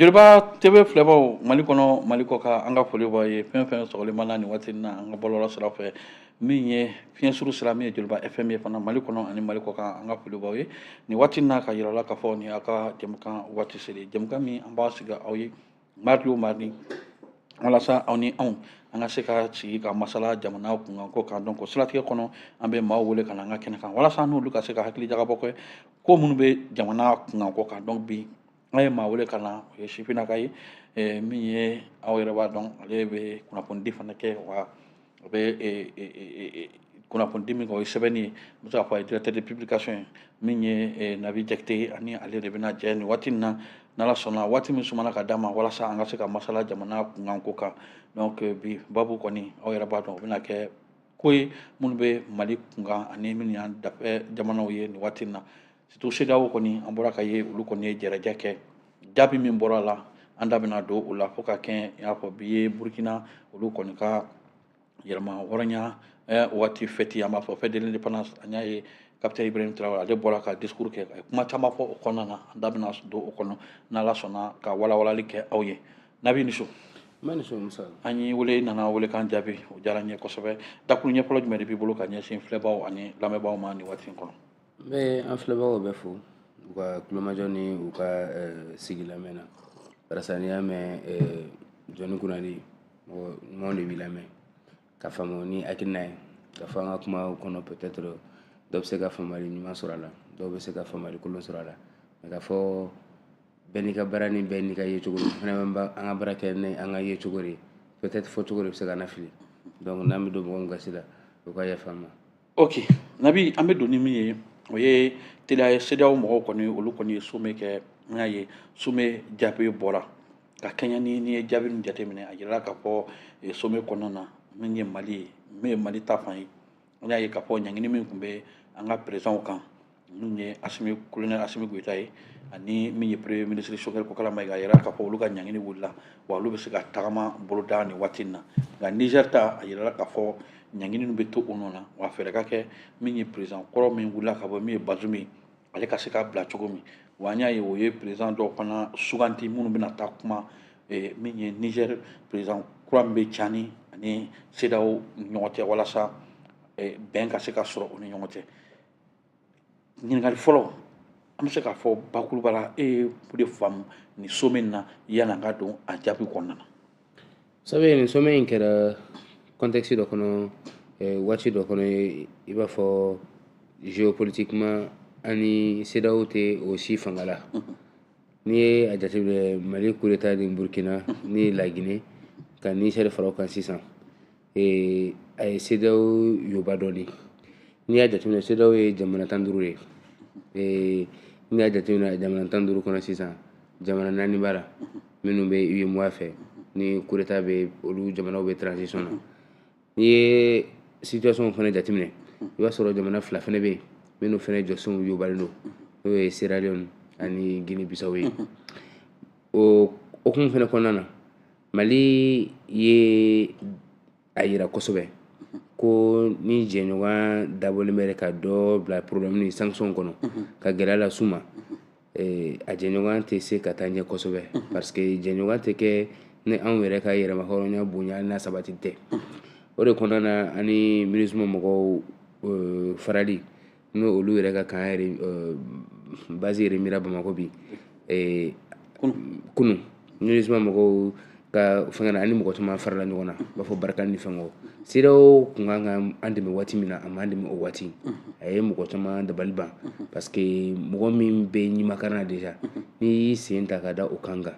joliba tv filɛbaw mali kɔnɔ mali kɔ kan an ka foli b'aw ye fɛn fɛn sɔgɔlen b'an na nin waati in na an ka bɔlɔlɔ sira fɛ min ye fiɲɛ suru sira min ye joliba fm ye fana mali kɔnɔ ani mali kɔ kan an ka foli b'aw ye nin waati in na k'a yir'aw la k'a fɔ nin y'a ka jɛmukan waati selen jɛmukan min an b'a sigi aw ye mardi o mardi walasa aw ni anw an ka se ka sigi ka masala jamana kunkanko kan donc o siratigɛ kɔnɔ an bɛ maaw wele ka na an ka kɛnɛ kan walasa n'olu ka se ka hakili jagabɔ kɛ ko minnu bɛ jamana kunkanko kan donc bi an ye maa wele ka na o ye sifinnaka ye min ye aw yɛrɛ b'a dɔn ale bɛ kunnafonidi fana kɛ wa o bɛ e, e, e, kunnafonidi min kɛ o ye sɛbɛnni ye n bɛ se k'a fɔ a ye directeur de publication ye min ye nabi jakite ye ani ale de bɛna jɛ nin waati in na n'ala sɔnna waati min sumana ka d'a ma walasa an ka se ka masala jamana kunkanko kan donc bi babu kɔni aw yɛrɛ b'a dɔn o bɛna kɛ ko ye minnu bɛ mali kunkan ani minnu y'an dafɛ jamanaw ye nin waati in na surtout cedeao kɔni an bɔra ka ye olu kɔni ye jaraja kɛ jaabi min bɔra a la an da bɛna don o la fo ka kɛ i n'a fɔ bi ye burukina olu kɔni ka yɛrɛmahɔrɔnya eh, waati fɛti an b'a fɔ fête de l'indépendance an y'a ye kapitɛn ibrahim tarawele ale bɔra ka discours kɛ a ye kuma caman fɔ o kɔnɔna na an da bɛna don o kɔnɔ n'ala sɔnna ka walawalali kɛ aw ye nabi ni so an y'i wele i nana welekan jaabi o diyara n ye kosɛbɛ dakurunɲɛ fɔlɔ jumɛn de b'i bolo ka ɲɛsin filɛbaaw ani lamɛnbaaw ma nin waati in kɔnɔ n bɛ an filɛbagaw bɛɛ fo u ka tulomajɔ ni u ka sigi lamɛn na barisa n'i y'a mɛn jɔnnin kunnandi mɔgɔ ɲumanw de b'i lamɛn ka faamu ni hakilina ye k'a fɔ an ka kumaw kɔnɔ peut-être dɔw bɛ se ka faamuyali ɲuman sɔrɔ a la dɔw bɛ se ka faamuyali kolon sɔrɔ a la mais k'a fɔ bɛɛ n'i ka baara ni bɛɛ n'i ka yecogo don fana bɛ ba- an ka baara kɛ ni an ka yecogo de ye peut-être fɔcogo de bɛ se ka na fili donc n'an bɛ don mɔgɔ min gasi la o ka yafa an ma ok nabi an bɛ don ni min ye o ye teliya ye cedeao mɔgɔw kɔni olu kɔni ye sommet kɛ n y'a ye sommet jaabi bɔra ka kɛɲɛ ni n'i ye jaabi min jateminɛ a yirala k'a fɔ eh, sommet kɔnɔna na min ye mali ye min ye mali ta fan ye n y'a ye k'a fɔ ɲangini min tun bɛ an ka présidentw kan minnu ye asimi colonel asimi goyita ye ani min ye premier ministre sogɛli kokala mayiga a yirala k'a fɔ olu ka ɲangini wulila wa olu bɛ se ka tagama boloda nin waati in na nka niger ta a yirala k'a fɔ ɲangini ninnu bɛ to u nɔ na wa fɛɛrɛ ka kɛ min ye président kɔrɔ min wulila ka bɔ min ye bazum ye ale ka se ka bila cogo min wa an y'a ye u ye président dɔw fana suganti minnu bɛna taa kuma eh, min ye niger président kura min bɛ cani ani cedeao ni ɲɔgɔn cɛ walasa eh, bɛn ka se ka sɔrɔ u ni ɲɔgɔn cɛ ɲininkali fɔlɔ an bɛ se k'a fɔ bakuruba la e ye o de faamu nin somɛ in na yanni an ka don a jaabi kɔnɔna na. sabu nin somɛ in kɛra kɔntɛkisi dɔ kɔnɔ eh, waati dɔ kɔnɔ i b'a fɔ geopolitiquement ani CEDEAO tɛ o si fanga la n'i ye a jateminɛ mali kudeta ni burkina ni lagine ka nisɛri fara o kan sisan ee a ye CEDEAO yoba dɔɔni n'i y'a jateminɛ CEDEAO ye jamana tan duuru ye ee n'i y'a jateminɛ jamana tan duuru kɔnɔ sisan jamana naani b'a la minnu bɛ uemoa fɛ ni kudeta bɛ olu jamanaw bɛ transition na n'i ye situation fana jateminɛ i b'a sɔrɔ jamana fila fana bɛ yen minnu fana jɔsenw yobalen don n'o ye sierra leone ani guinee bissau ye o hokumu fana kɔnɔna na mali ye a yira kosɛbɛ ko ni jɛɲɔgɔn dabɔlen bɛ ka dɔ bila problème ni sanction kɔnɔ ka gɛlɛya las'u ma eh, a jɛɲɔgɔn tɛ se ka taa ɲɛ kosɛbɛ parce que jɛɲɔgɔn tɛ kɛ ni anw yɛrɛ ka yɛrɛmahɔrɔnya bonya n'a sabati tɛ o de kɔnɔna na ani minusima mɔgɔw eh, farali n'o olu yɛrɛ ka kan yɛrɛ euh, base yɛrɛ mira bamakɔ bi euh, kunu minusima mɔgɔw ka fɛngɛ na ani mɔgɔ caman farala ɲɔgɔn na b'a fɔ barkhane ni fɛngɛw CEDEAO kun kan ka an dɛmɛ waati min na a m'an dɛmɛ o waati a ye mɔgɔ caman dabali ban parce que mɔgɔ min bɛ ɲimakari na déjà n'i y'i sen ta ka da o kan kan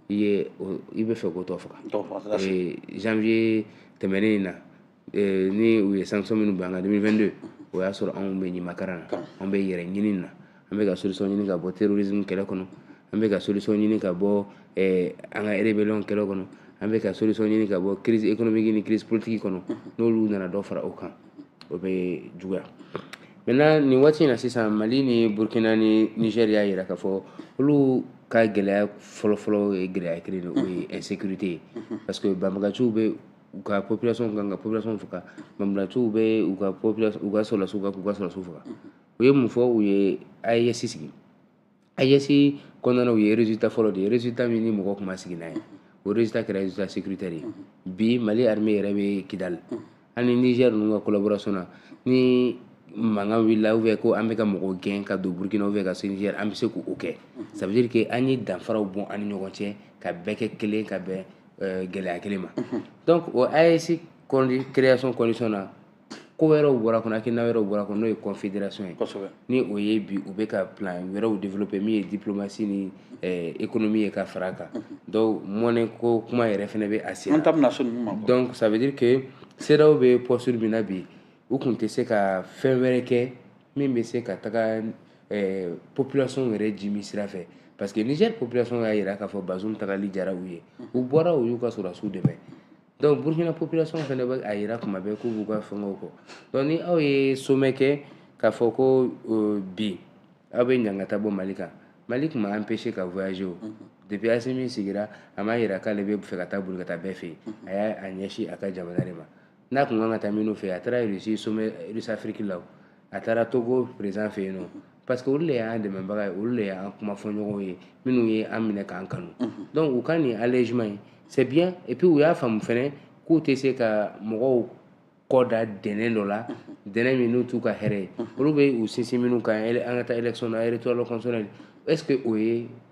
i ye i bɛ fɛ k'o tɔ faga janvier tɛmɛnen in na eh, ni u ye sanction minnu bila an kan 2022 o y'a sɔrɔ anw bɛ ɲimakara na anw bɛ yɛrɛ ɲini na an bɛ ka solution ɲini ka bɔ terrorisme kɛlɛ kɔnɔ an bɛ ka solution ɲini ka bɔ eh, an ka rébellion kɛlɛ kɔnɔ an bɛ ka solution ɲini ka bɔ crise économique ni crise politique kɔnɔ n'olu nana dɔ fara o kan o bɛ juguya maintenant nin waati in na sisan mali ni burkina ni niger y'a yira k'a fɔ olu ka gɛlɛya fɔlɔfɔlɔ ye gɛlɛya kelen de o ye insécurité ye parce que banbaganciw bɛ u ka population kan ka population faga banbaganciw bɛ u ka population u ka sɔrɔdasiw kan k'u ka sɔrɔdasiw faga u ye mun fɔ u ye AES sigi AES kɔnɔna u ye résultat fɔlɔ de ye résultat min ni mɔgɔ tun ma sigi n'a ye o résultat kɛra résultat sécuritaire ye bi Mali armée yɛrɛ bɛ Kidali an ni Niger ninnu ka collaboration na ni mankan wulila ou bien ko an bɛ ka mɔgɔw gɛn ka don Burkina ou bien ka se Niger an bɛ se k'o kɛ ça veut dire que an ye danfaraw bɔ an ni ɲɔgɔn cɛ ka bɛɛ kɛ kelen ka bɛn eh, gɛlɛya kelen ma donc o AES condi- création condition na ko wɛrɛw bɔra kɔnɔ hakilina wɛrɛw bɔra kɔnɔ n'o ye confédération ye kosɛbɛ ni o ye bi u bɛ ka plan wɛrɛw développer min ye diplomatie ni eh, économie ye ka fara a kan donc monnaie ko kuma yɛrɛ fɛnɛ bɛ a sen an na ta bɛna so ninnu ma donc ça veut dire que CEDEAO bɛ posture min na bi u tun tɛ se ka fɛn wɛrɛ kɛ min bɛ se ka taga eh, population yɛrɛ jimi sira fɛ parce que Niger population y'a jira k'a fɔ Bazoum tagali diyara u ye u bɔra u y'u ka sɔrɔdasiw dɛmɛ donc Burkina population fana bɛ a jira kuma bɛɛ k'u b'u ka fɛngɛw kɔ donc ni aw ye sommet kɛ k'a fɔ ko euh, bi aw bɛ ɲangata bɔ Mali kan Mali tun ma empêché ka voyager o depuis Assimi sigira a m'a jira k'ale bɛ fɛ ka taa boli ka taa bɛɛ fɛ yen a y'a a ɲɛsin a ka jamana de ma n'a kun kan ka taa minnu fɛ a taara Russie sommet Russie Afrique la a taara Togo président fɛ yen nɔ parce que olu de y'an dɛmɛbaga ye olu de y'an kumafɔɲɔgɔn ye minnu ye an minɛ k'an kanu donc u ka nin allègement in c'est bien et puis u y'a faamu fɛnɛ k'u tɛ se ka mɔgɔw kɔ da dɛnɛn dɔ la dɛnɛn min n'u t'u ka hɛrɛ ye olu bɛ u sinsin minnu kan an ka taa élection na électoral constitutionnel est ce que o ye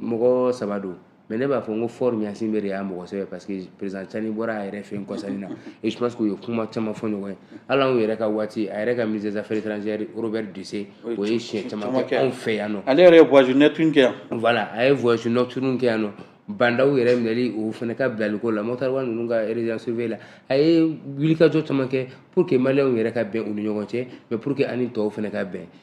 mɔgɔ saba don mais ne b'a fɔ n ko Faure Gnassingbé de y'a mɔgɔ sɛbɛ parce que président Tiani bɔra a yɛrɛ fɛ yen kɔsa in na et je pense que u ye kuma caman fɔ ɲɔgɔn ye hali anw yɛrɛ ka waati a yɛrɛ ka ministre des affaires étrangères Robert Dussey o ye siɲɛ caman kɛ anw fɛ yan nɔ ale yɛrɛ ye voyage nocturne kɛ yan voilà a ye voyage nocturne kɛ yan nɔ Bah N'Daw yɛrɛ minɛli o fana ka bilaliko la Moctar Ouane ninnu ka résidence surveillée la a ye wulikajɔ caman kɛ pour que maliyɛnw yɛrɛ ka bɛn u ni ɲɔgɔn cɛ mais pour que an ni tɔw fana ka bɛn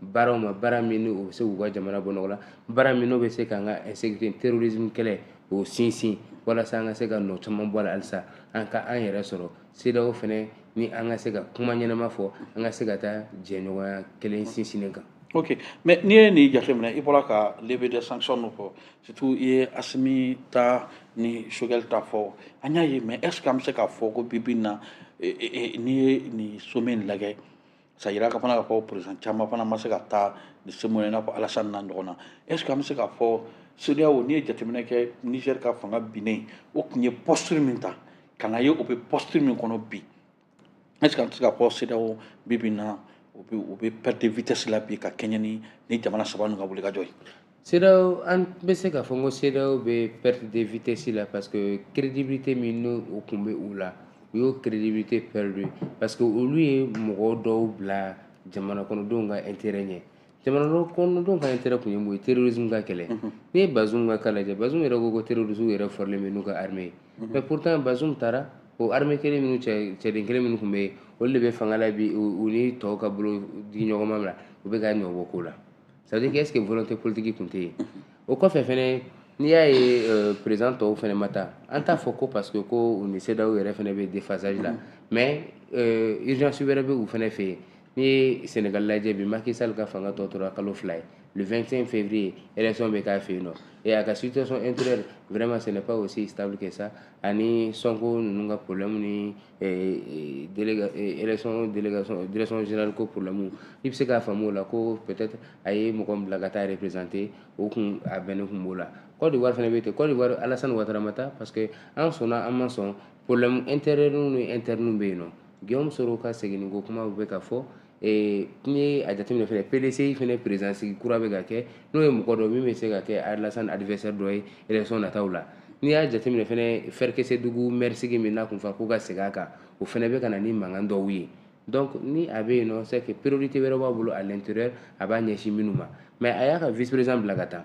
baaraw ma baara min n'o bɛ se k'u ka jamana bɔ nɔgɔ la baara min n'o bɛ se k'an ka insécurité terrorisme kɛlɛ o sinsin walasa an ka se ka nɔ caman bɔ a la halisa an ka an yɛrɛ sɔrɔ CEDEAO fɛnɛ ni an ka se ka kuma ɲɛnama fɔ an ka se ka taa jɛɲɔgɔnya kelen sinsinnen kan ok mais n'i ye nin jateminɛ i bɔra ka levée de sanction min fɔ surtout i ye Assimi ta ni Choguel ta fɔ an y'a ye mais est ce que an bɛ se k'a fɔ ko bi bi in na n'i ye nin sommet in lagɛ sa jira ka fana k'a fɔ président caman fana ma se ka taa nin sommet in na i n'a fɔ Alassane n'a ɲɔgɔnna est ce que an bɛ se k'a fɔ CEDEAO n'i ye jateminɛ kɛ Niger ka fanga binnen o tun ye posture min ta ka na ye o bɛ posture min kɔnɔ bi est ce que an tɛ se k'a fɔ CEDEAO bi bi in na o bɛ o bɛ perte de vitesse la bi ka kɛɲɛ ni ni jamana saba ninnu ka wulikajɔ ye. CEDEAO an bɛ se k'a fɔ ko CEDEAO bɛ perte de vitesse la parce que crédibilité min n'o o tun bɛ u la u y'o crédibilité perdre parce que olu ye mɔgɔ dɔw bila jamana kɔnɔdenw ka intérêt ɲɛ jamana kɔnɔdenw ka intérêt tun ye mun ye terrorisme ka kɛlɛ n'i ye Bazoum ka cas lajɛ Bazoum yɛrɛ ko ko terroristes yɛrɛ forlen bɛ n'u ka armée ye mais pourtant Bazoum taara o armée kelen minnu cɛ cɛden kelen minnu tun bɛ yen olu de bɛ fanga la bi u ni tɔw ka bolo di ɲɔgɔnma la u bɛ ka nɔ bɔ ko la ça veut dire que est-ce que volonté politique tun tɛ yen o kɔfɛ fɛnɛ n'i y'a ye euh, président tɔw fɛnɛ ma taa an t'a fɔ ko parce que ko u ni CEDEAO yɛrɛ fɛnɛ bɛ déphasage la mais euh, urgence wɛrɛ bɛ u fɛnɛ fɛ yen n'i ye Sénégal lajɛ bi Macky Sall ka fanga tɔ tora kalo fila ye le 25 février élection bɛ k'a fɛ yen nɔ et a ka situation intérieure vraiment ce n'est pas aussi stable que ça ani Sonko ninnu ka problème ni direction générale ko problème i bɛ se k'a faamu o la ko peut-être a ye mɔgɔ min bila ka taa représenter o kun a bɛnnen kun b'o la Côte d'Ivoire fɛnɛ bɛ ten Côte d'Ivoire Alassane Ouattara ma taa parce que an sɔnna an ma sɔn problème intérieurw ni interne bɛ yen nɔ Guillaume Soro ka seginni ko kuma bɛ ka fɔ ee n'i ye a jateminɛ fɛnɛ PDCI fɛnɛ président sigi kura bɛ ka kɛ n'o ye mɔgɔ dɔ min bɛ se ka kɛ Alassane adversaire dɔ ye élection nataw la n'i y'a jateminɛ fɛnɛ Ferkessédougou maire sigi min n'a kun fɔra k'o ka segin a kan o fɛnɛ bɛ ka na ni mankan dɔw ye donc ni a bɛ yen nɔ c'est que priorité wɛrɛ b'a bolo à l'intérieur a b'a ɲɛsin minnu ma mais a y'a ka vice président bila ka taa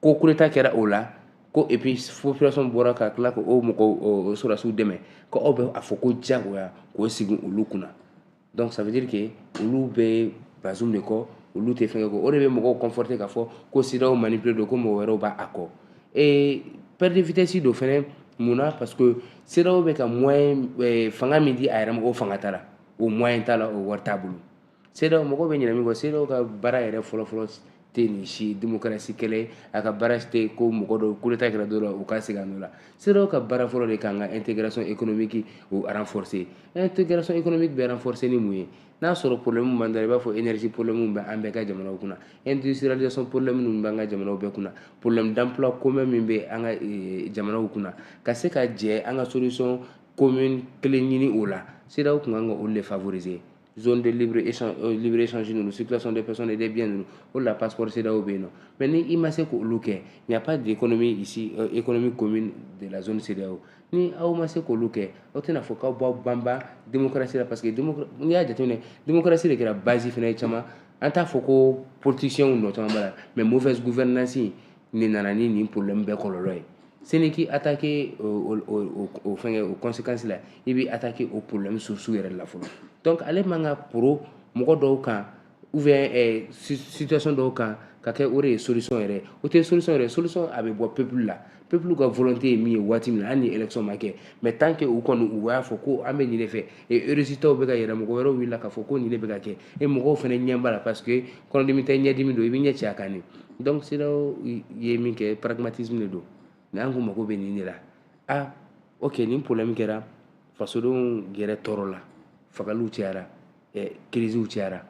ko coup d'état kɛra o la ko et puis population bɔra ka tila ka o mɔgɔ sɔrɔdasiw dɛmɛ ko aw bɛ a fɔ ko jagoya k'o sigi olu kunna donc ça veut dire que olu bɛ Bazoum de kɔ olu tɛ fɛnkɛ kɔ o de bɛ mɔgɔw conforter k'a fɔ ko CEDEAO manipuler don ko mɔgɔ wɛrɛw b'a kɔ ee perte de vitesse don fɛnɛ mun na parce que CEDEAO bɛ ka moyen fanga min di a yɛrɛ ma o fanga t'a la o moyen t'a la o wari t'a bolo CEDEAO mɔgɔ bɛ ɲinɛ min kɔ CEDEAO ka baara yɛrɛ fɔlɔfɔlɔ tɛ nin si démocratie kɛlɛ ye a ka baara tɛ ko mɔgɔ dɔw coup d'état kɛra dɔ la u ka segin a nɔ la CEDEAO ka baara fɔlɔ de k'an ka intégration économique o renforcer intégration économique bɛ renforcer ni mun ye n'a sɔrɔ problème b'an da la i b'a fɔ énergie problème bɛ an bɛɛ ka jamanaw kunna industrialisation problème ninnu b'an ka jamanaw bɛɛ kunna problème d'emploi commun min bɛ an ka eh, jamanaw kunna ka se ka jɛ an ka solution commune kelen ɲini o la CEDEAO tun kan ka olu de favoriser zone de libre échange ninnu circulation des personnes et des biens ninnu o de la passeport CEDEAO bɛ yen nɔ mais ni i ma se k'olu kɛ il n'y a pas d'économie ici euh, économie commune de la zone CEDEAO ni aw ma se k'olu kɛ aw tɛna fɔ k'aw b'aw banban démocratie la parce que n'i y'a jateminɛ démocratie de kɛra base fana ye caman an t'a fɔ ko politicienw nɔ caman b'a la mais mauvaise gouvernance nin nana ni nin problème bɛɛ kɔlɔlɔ ye seni k'i attaquer o fɛngɛ o conséquence la i b'i attaquer o problème source yɛrɛ la fɔlɔ donc ale man ka poron mɔgɔ dɔw kan ou bien eh, situation dɔw kan ka kɛ o de ye solution yɛrɛ o tɛ solution yɛrɛ solution a bɛ bɔ peuple la peuple ka volonté ye min ye waati min na hali ni élection ma kɛ mais tant que u kɔni u y'a fɔ ko an bɛ nin de fɛ e résultat bɛ k'a yira mɔgɔ wɛrɛw wulila k'a fɔ ko nin de bɛ ka kɛ e mɔgɔw fɛnɛ ɲɛ b'a la parce que kɔnɔdimi tɛ ɲɛdimi don i bɛ ɲɛ cɛ a kan ne donc CEDEAO ye min kɛ pragmatisme de don mais an ko mago bɛ nin de la ah ok nin problème kɛra fasodenw yɛrɛ tɔɔrɔ la fagaliw cayara eh, crisew cayara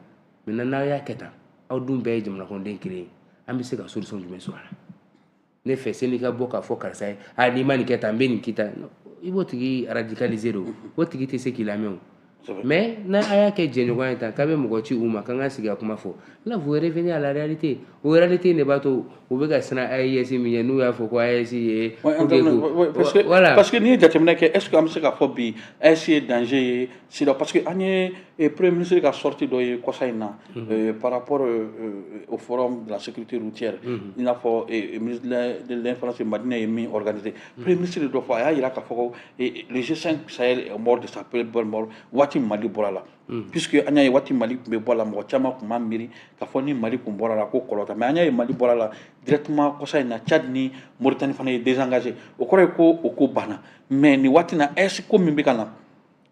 maintenant n'aw y'a kɛ tan aw dun bɛɛ ye jamanakɔnɔden kelen ye an bɛ se ka solution jumɛn sɔrɔ a la ne fɛ sani ka bɔ k'a fɔ karisa ye a n'i ma nin kɛ tan n bɛ nin k'i la i b'o tigi radicaliser de o tigi tɛ se k'i lamɛn o mais n'a a y'a kɛ jɛɲɔgɔn ye tan k'a bɛ mɔgɔ ci u ma k'an ka sigi ka kuma fɔ là vous revenez à la réalité o réalité in de b'a to u bɛ ka siran AES min ye n'u y'a fɔ ko AES ye pour que ko voilà parce que n'i ye jateminɛ kɛ est ce que an bɛ se k'a fɔ bi AES ye danger ye Sira parce que an ye eh, premier ministre ka sortie dɔ ye kɔsa in na mhm. eh, par rapport eh, au forum de la sécurité routière mhm. i n'a fɔ ministre de l'information de Madina ye min organiser mhm. premier ministre dɔ fɔ a y'a yira k'a fɔ ko le G5 Sahel est mort de sa propre mort waati Mali bɔra la puisque an y'a ye waati Mali tun bɛ bɔ a la mɔgɔ caman tun b'a miiri k'a fɔ ni Mali tun bɔra la ko kɔlɔlɔ t'a mais an y'a ye Mali bɔra la directement kɔsa in na Tchad ni Mauritanie fana ye désengager o kɔrɔ ye ko o ko banna mais nin waati in na AES ko min bɛ ka na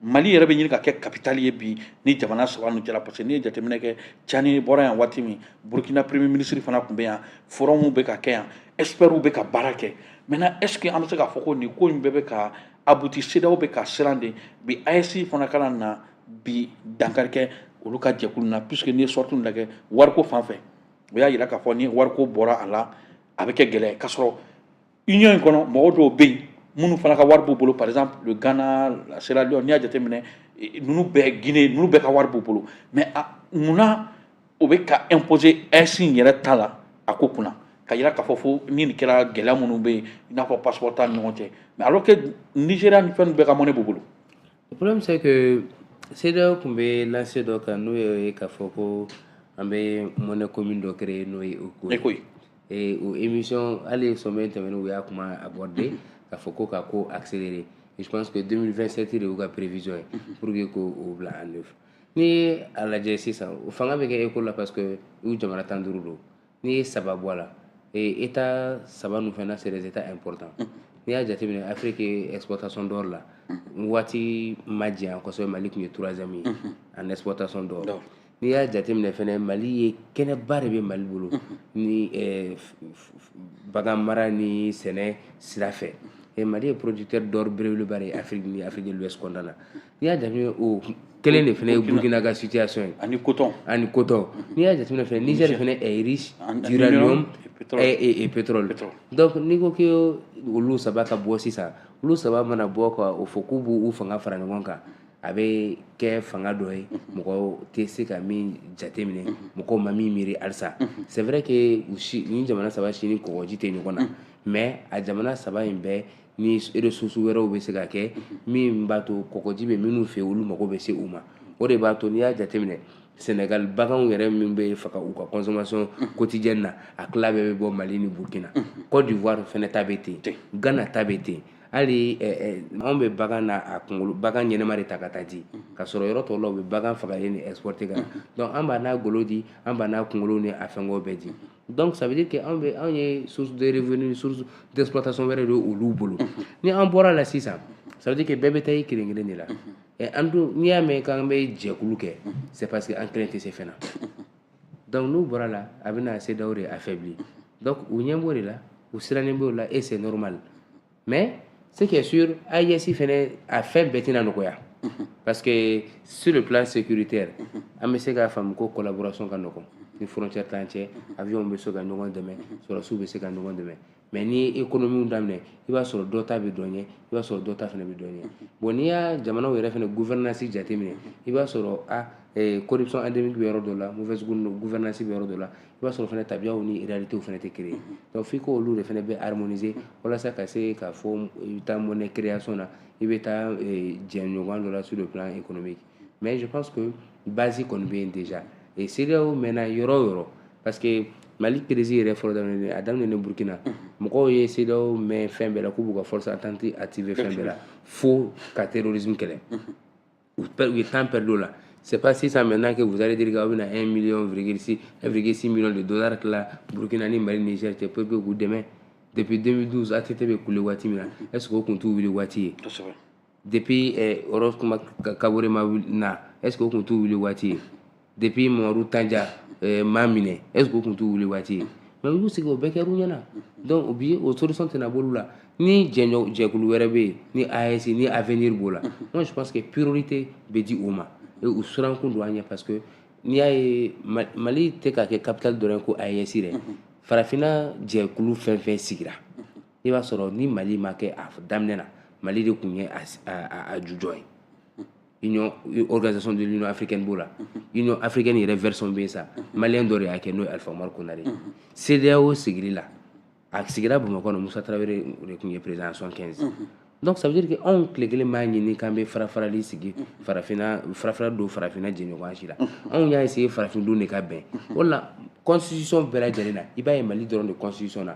mali yɛrɛ bɛ ɲini ka kɛ capitale ye bi nin jamana saba ninnu cɛla parce que n'i ye jateminɛ kɛ Tiani bɔra yan waati min burkina premier ministre fana tun bɛ yan forum bɛ ka kɛ yan experts bɛ ka baara kɛ maintenant est ce que an bɛ se k'a fɔ ko nin ko in bɛɛ bɛ ka aboutir CEDEAO bɛ ka siran de bi AES fana kana na bi dankari kɛ olu ka jɛkulu na puisque n'i ye sortie ninnu lajɛ wariko fan fɛ o y'a yira k'a fɔ ni wariko bɔra a la a bɛ kɛ gɛlɛya ye k'a sɔrɔ union in kɔnɔ mɔgɔ dɔw bɛ yen minnu fana ka wari b'u bolo par exemple le Ghana la Sierra Leone n'i y'a jateminɛ eh, ninnu bɛɛ Guinée ninnu bɛɛ ka wari b'u bolo mais a munna o bɛ ka imposer AES yɛrɛ ta la a ko kunna k'a yira k'a fɔ fo ni nin kɛra gɛlɛya minnu bɛ yen i n'a fɔ passeport t'an ni ɲɔgɔn cɛ mais alors que Nigeria ni fɛn bɛɛ ka monnaie b'u bolo. le problème c'est que CEDEAO tun bɛ lancée dɔ kan n'o ye k'a fɔ ko an bɛ monnaie commune dɔ créer n'o ye eco ye. ee o émission hali ye sommet tɛmɛnen u y'a kuma aborder k'a fɔ ko k'a ko accélérer je pense que 2027 de y'u ka prévision ye pour que k'o bila en œuvre n'i ye a lajɛ sisan o fanga bɛ kɛ eco la parce que u jamana tan duuru don n'i ye saba bɔ a la ee état saba ninnu fana c'est des états importants n'i y'a jateminɛ Afrique ye exportation d'or la waati ma janya kosɛbɛ Mali tun ye troisième ye en exportation d'or n'i y'a jateminɛ fana mali ye kɛnɛba de bɛ mali bolo ni eh, bagan mara ni sɛnɛ sira fɛ eh, mali ye producteur d'or belebeleba de ye afrique ni afrique de l'ouest kɔnɔna na n'i y'a jateminɛ o kelen de fana ye burkina ka situation ye ani coton n'i y'a jateminɛ fana niger fana est riche d'uranium et pétrole donc n'i ko que olu saba ka bɔ sisan olu saba mana bɔ ka o fɔ k'u b'u fanga fara ɲɔgɔn kan a bɛ kɛ fanga dɔ ye mɔgɔ tɛ se ka min jateminɛ mɔgɔ ma min miiri halisa c'est vrai que ni jamana saba si ni kɔgɔji tɛ ɲɔgɔn na mais a jamana saba in bɛɛ ni ressources wɛrɛw bɛ se ka kɛ min b'a to kɔgɔji bɛ minnu fɛ olu mago bɛ se u ma o de b'a to n'i y'a jateminɛ sɛnɛgali baganw yɛrɛ min bɛ faga u ka consommation quotidienne na a tila bɛɛ bɛ bɔ mali ni burkina côte d'ivoire fɛnɛ ta bɛ ten gana ta bɛ ten hali anw bɛ bagan n'a a kunkolo bagan ɲɛnama de ta ka taa di ka sɔrɔ yɔrɔ tɔw la u bɛ bagan fagalen exporter ka na donc an b'a n'a golo di an b'a n'a kunkolo ni a fɛngɛw bɛɛ di donc ça veut dire que anw ye source de revenu source d'exploitation wɛrɛ de olu bolo ni an bɔra la sisan ça veut dire que bɛɛ bɛ taa i kelen kelen de la an dun n'i y'a mɛn k'an bɛ jɛkulu kɛ c'est parce que an kelen tɛ se fɛn na donc n'u bɔra la a bɛna CEDEAO de affaiblir donc u ɲɛ b'o de la u sirannen b'o la et c'est normal mais ce qui est sûr AES fɛnɛ a fɛn bɛɛ tɛna nɔgɔya parce que sur le plan sécuritaire an bɛ se k'a faamu ko collaboration ka nɔgɔn ni frontière t'an cɛ avion bɛ se ka ɲɔgɔn dɛmɛ sɔrɔsiw bɛ se ka ɲɔgɔn dɛmɛ mais n'i ye ekonomiw daminɛ i b'a sɔrɔ dɔ ta bɛ dɔ ɲɛ i b'a sɔrɔ dɔ ta fɛnɛ bɛ dɔ ɲɛ bon n'i y'a jamanaw yɛrɛ fɛnɛ gouvernance jateminɛ i b'a sɔrɔ a corruption eh, endémique bɛ yɔrɔ dɔ la mauvaise gouvernance bɛ yɔrɔ dɔ la i b'a sɔrɔ fɛnɛ tabiyaw ni réalitéw fɛnɛ tɛ kelen donc f'i k'olu de fɛnɛ bɛ harmoniser walasa ka se k'a fɔ i bɛ taa monnaie création na i bɛ taa eh, jɛɲɔgɔn dɔ la sur le plan économique mais je pense que base kɔni bɛ yen déjà et CEDEAO mɛnna yɔrɔ o yɔrɔ parce que Mali crise yɛrɛ fɔlɔ daminɛ a daminɛ Burkina mɔgɔw ye CEDEAO mɛn fɛn bɛɛ la k'u b'u ka force attente activer fɛn bɛɛ la fo ka terrorisme kɛlɛ u ye temps perdu o la c'est pas sisan maintenant que vous allez dire k'aw bɛna 1 million virgule 6 1,6 million de dollars tila Burkina ni Mali Niger cɛ pour que k'u dɛmɛ depuis 2012 ATT bɛ kule waati min na est ce que o tun t'u wuli waati ye depuis eh, roch marc kabore ma na est ce que o tun t'u wuli waati ye depuis mamadu tanja eh, ma minɛ est ce que o tun t'u wuli waati ye mais u y'u sigi o bɛɛ kɛr'u ɲɛna donc o bi o solution tɛna b'olu la ni jɛɲɔ jɛkulu wɛrɛ bɛ yen ni AES ni avenir b'o la moi je pense que priorité bɛ di o ma et u sirankun don an ɲɛ parce que n'i y'a ye mali tɛ ka kɛ capitale dɔrɔn ko AES dɛ farafinna jɛkulu fɛn fɛn sigira i b'a sɔrɔ ni mali ma kɛ a daminɛ na mali de tun ye a jujɔn ye union organisation de l'union africaine b'o la union africaine yɛrɛ version bɛ yen sa maliyɛn dɔ de y'a kɛ n'o ye alifa umaru konare ye cedeao sigili la a sigira bamakɔ na musa tarawele de tun ye président 75 donc ça veut dire que anw tile kelen b'a ɲini k'an bɛ farafarali sigi farafina farafara don farafina jɛɲɔgɔnya si la anw y'a essayer farafindenw de ka bɛn o la constitution bɛɛ lajɛlen na i b'a ye mali dɔrɔn de constitution na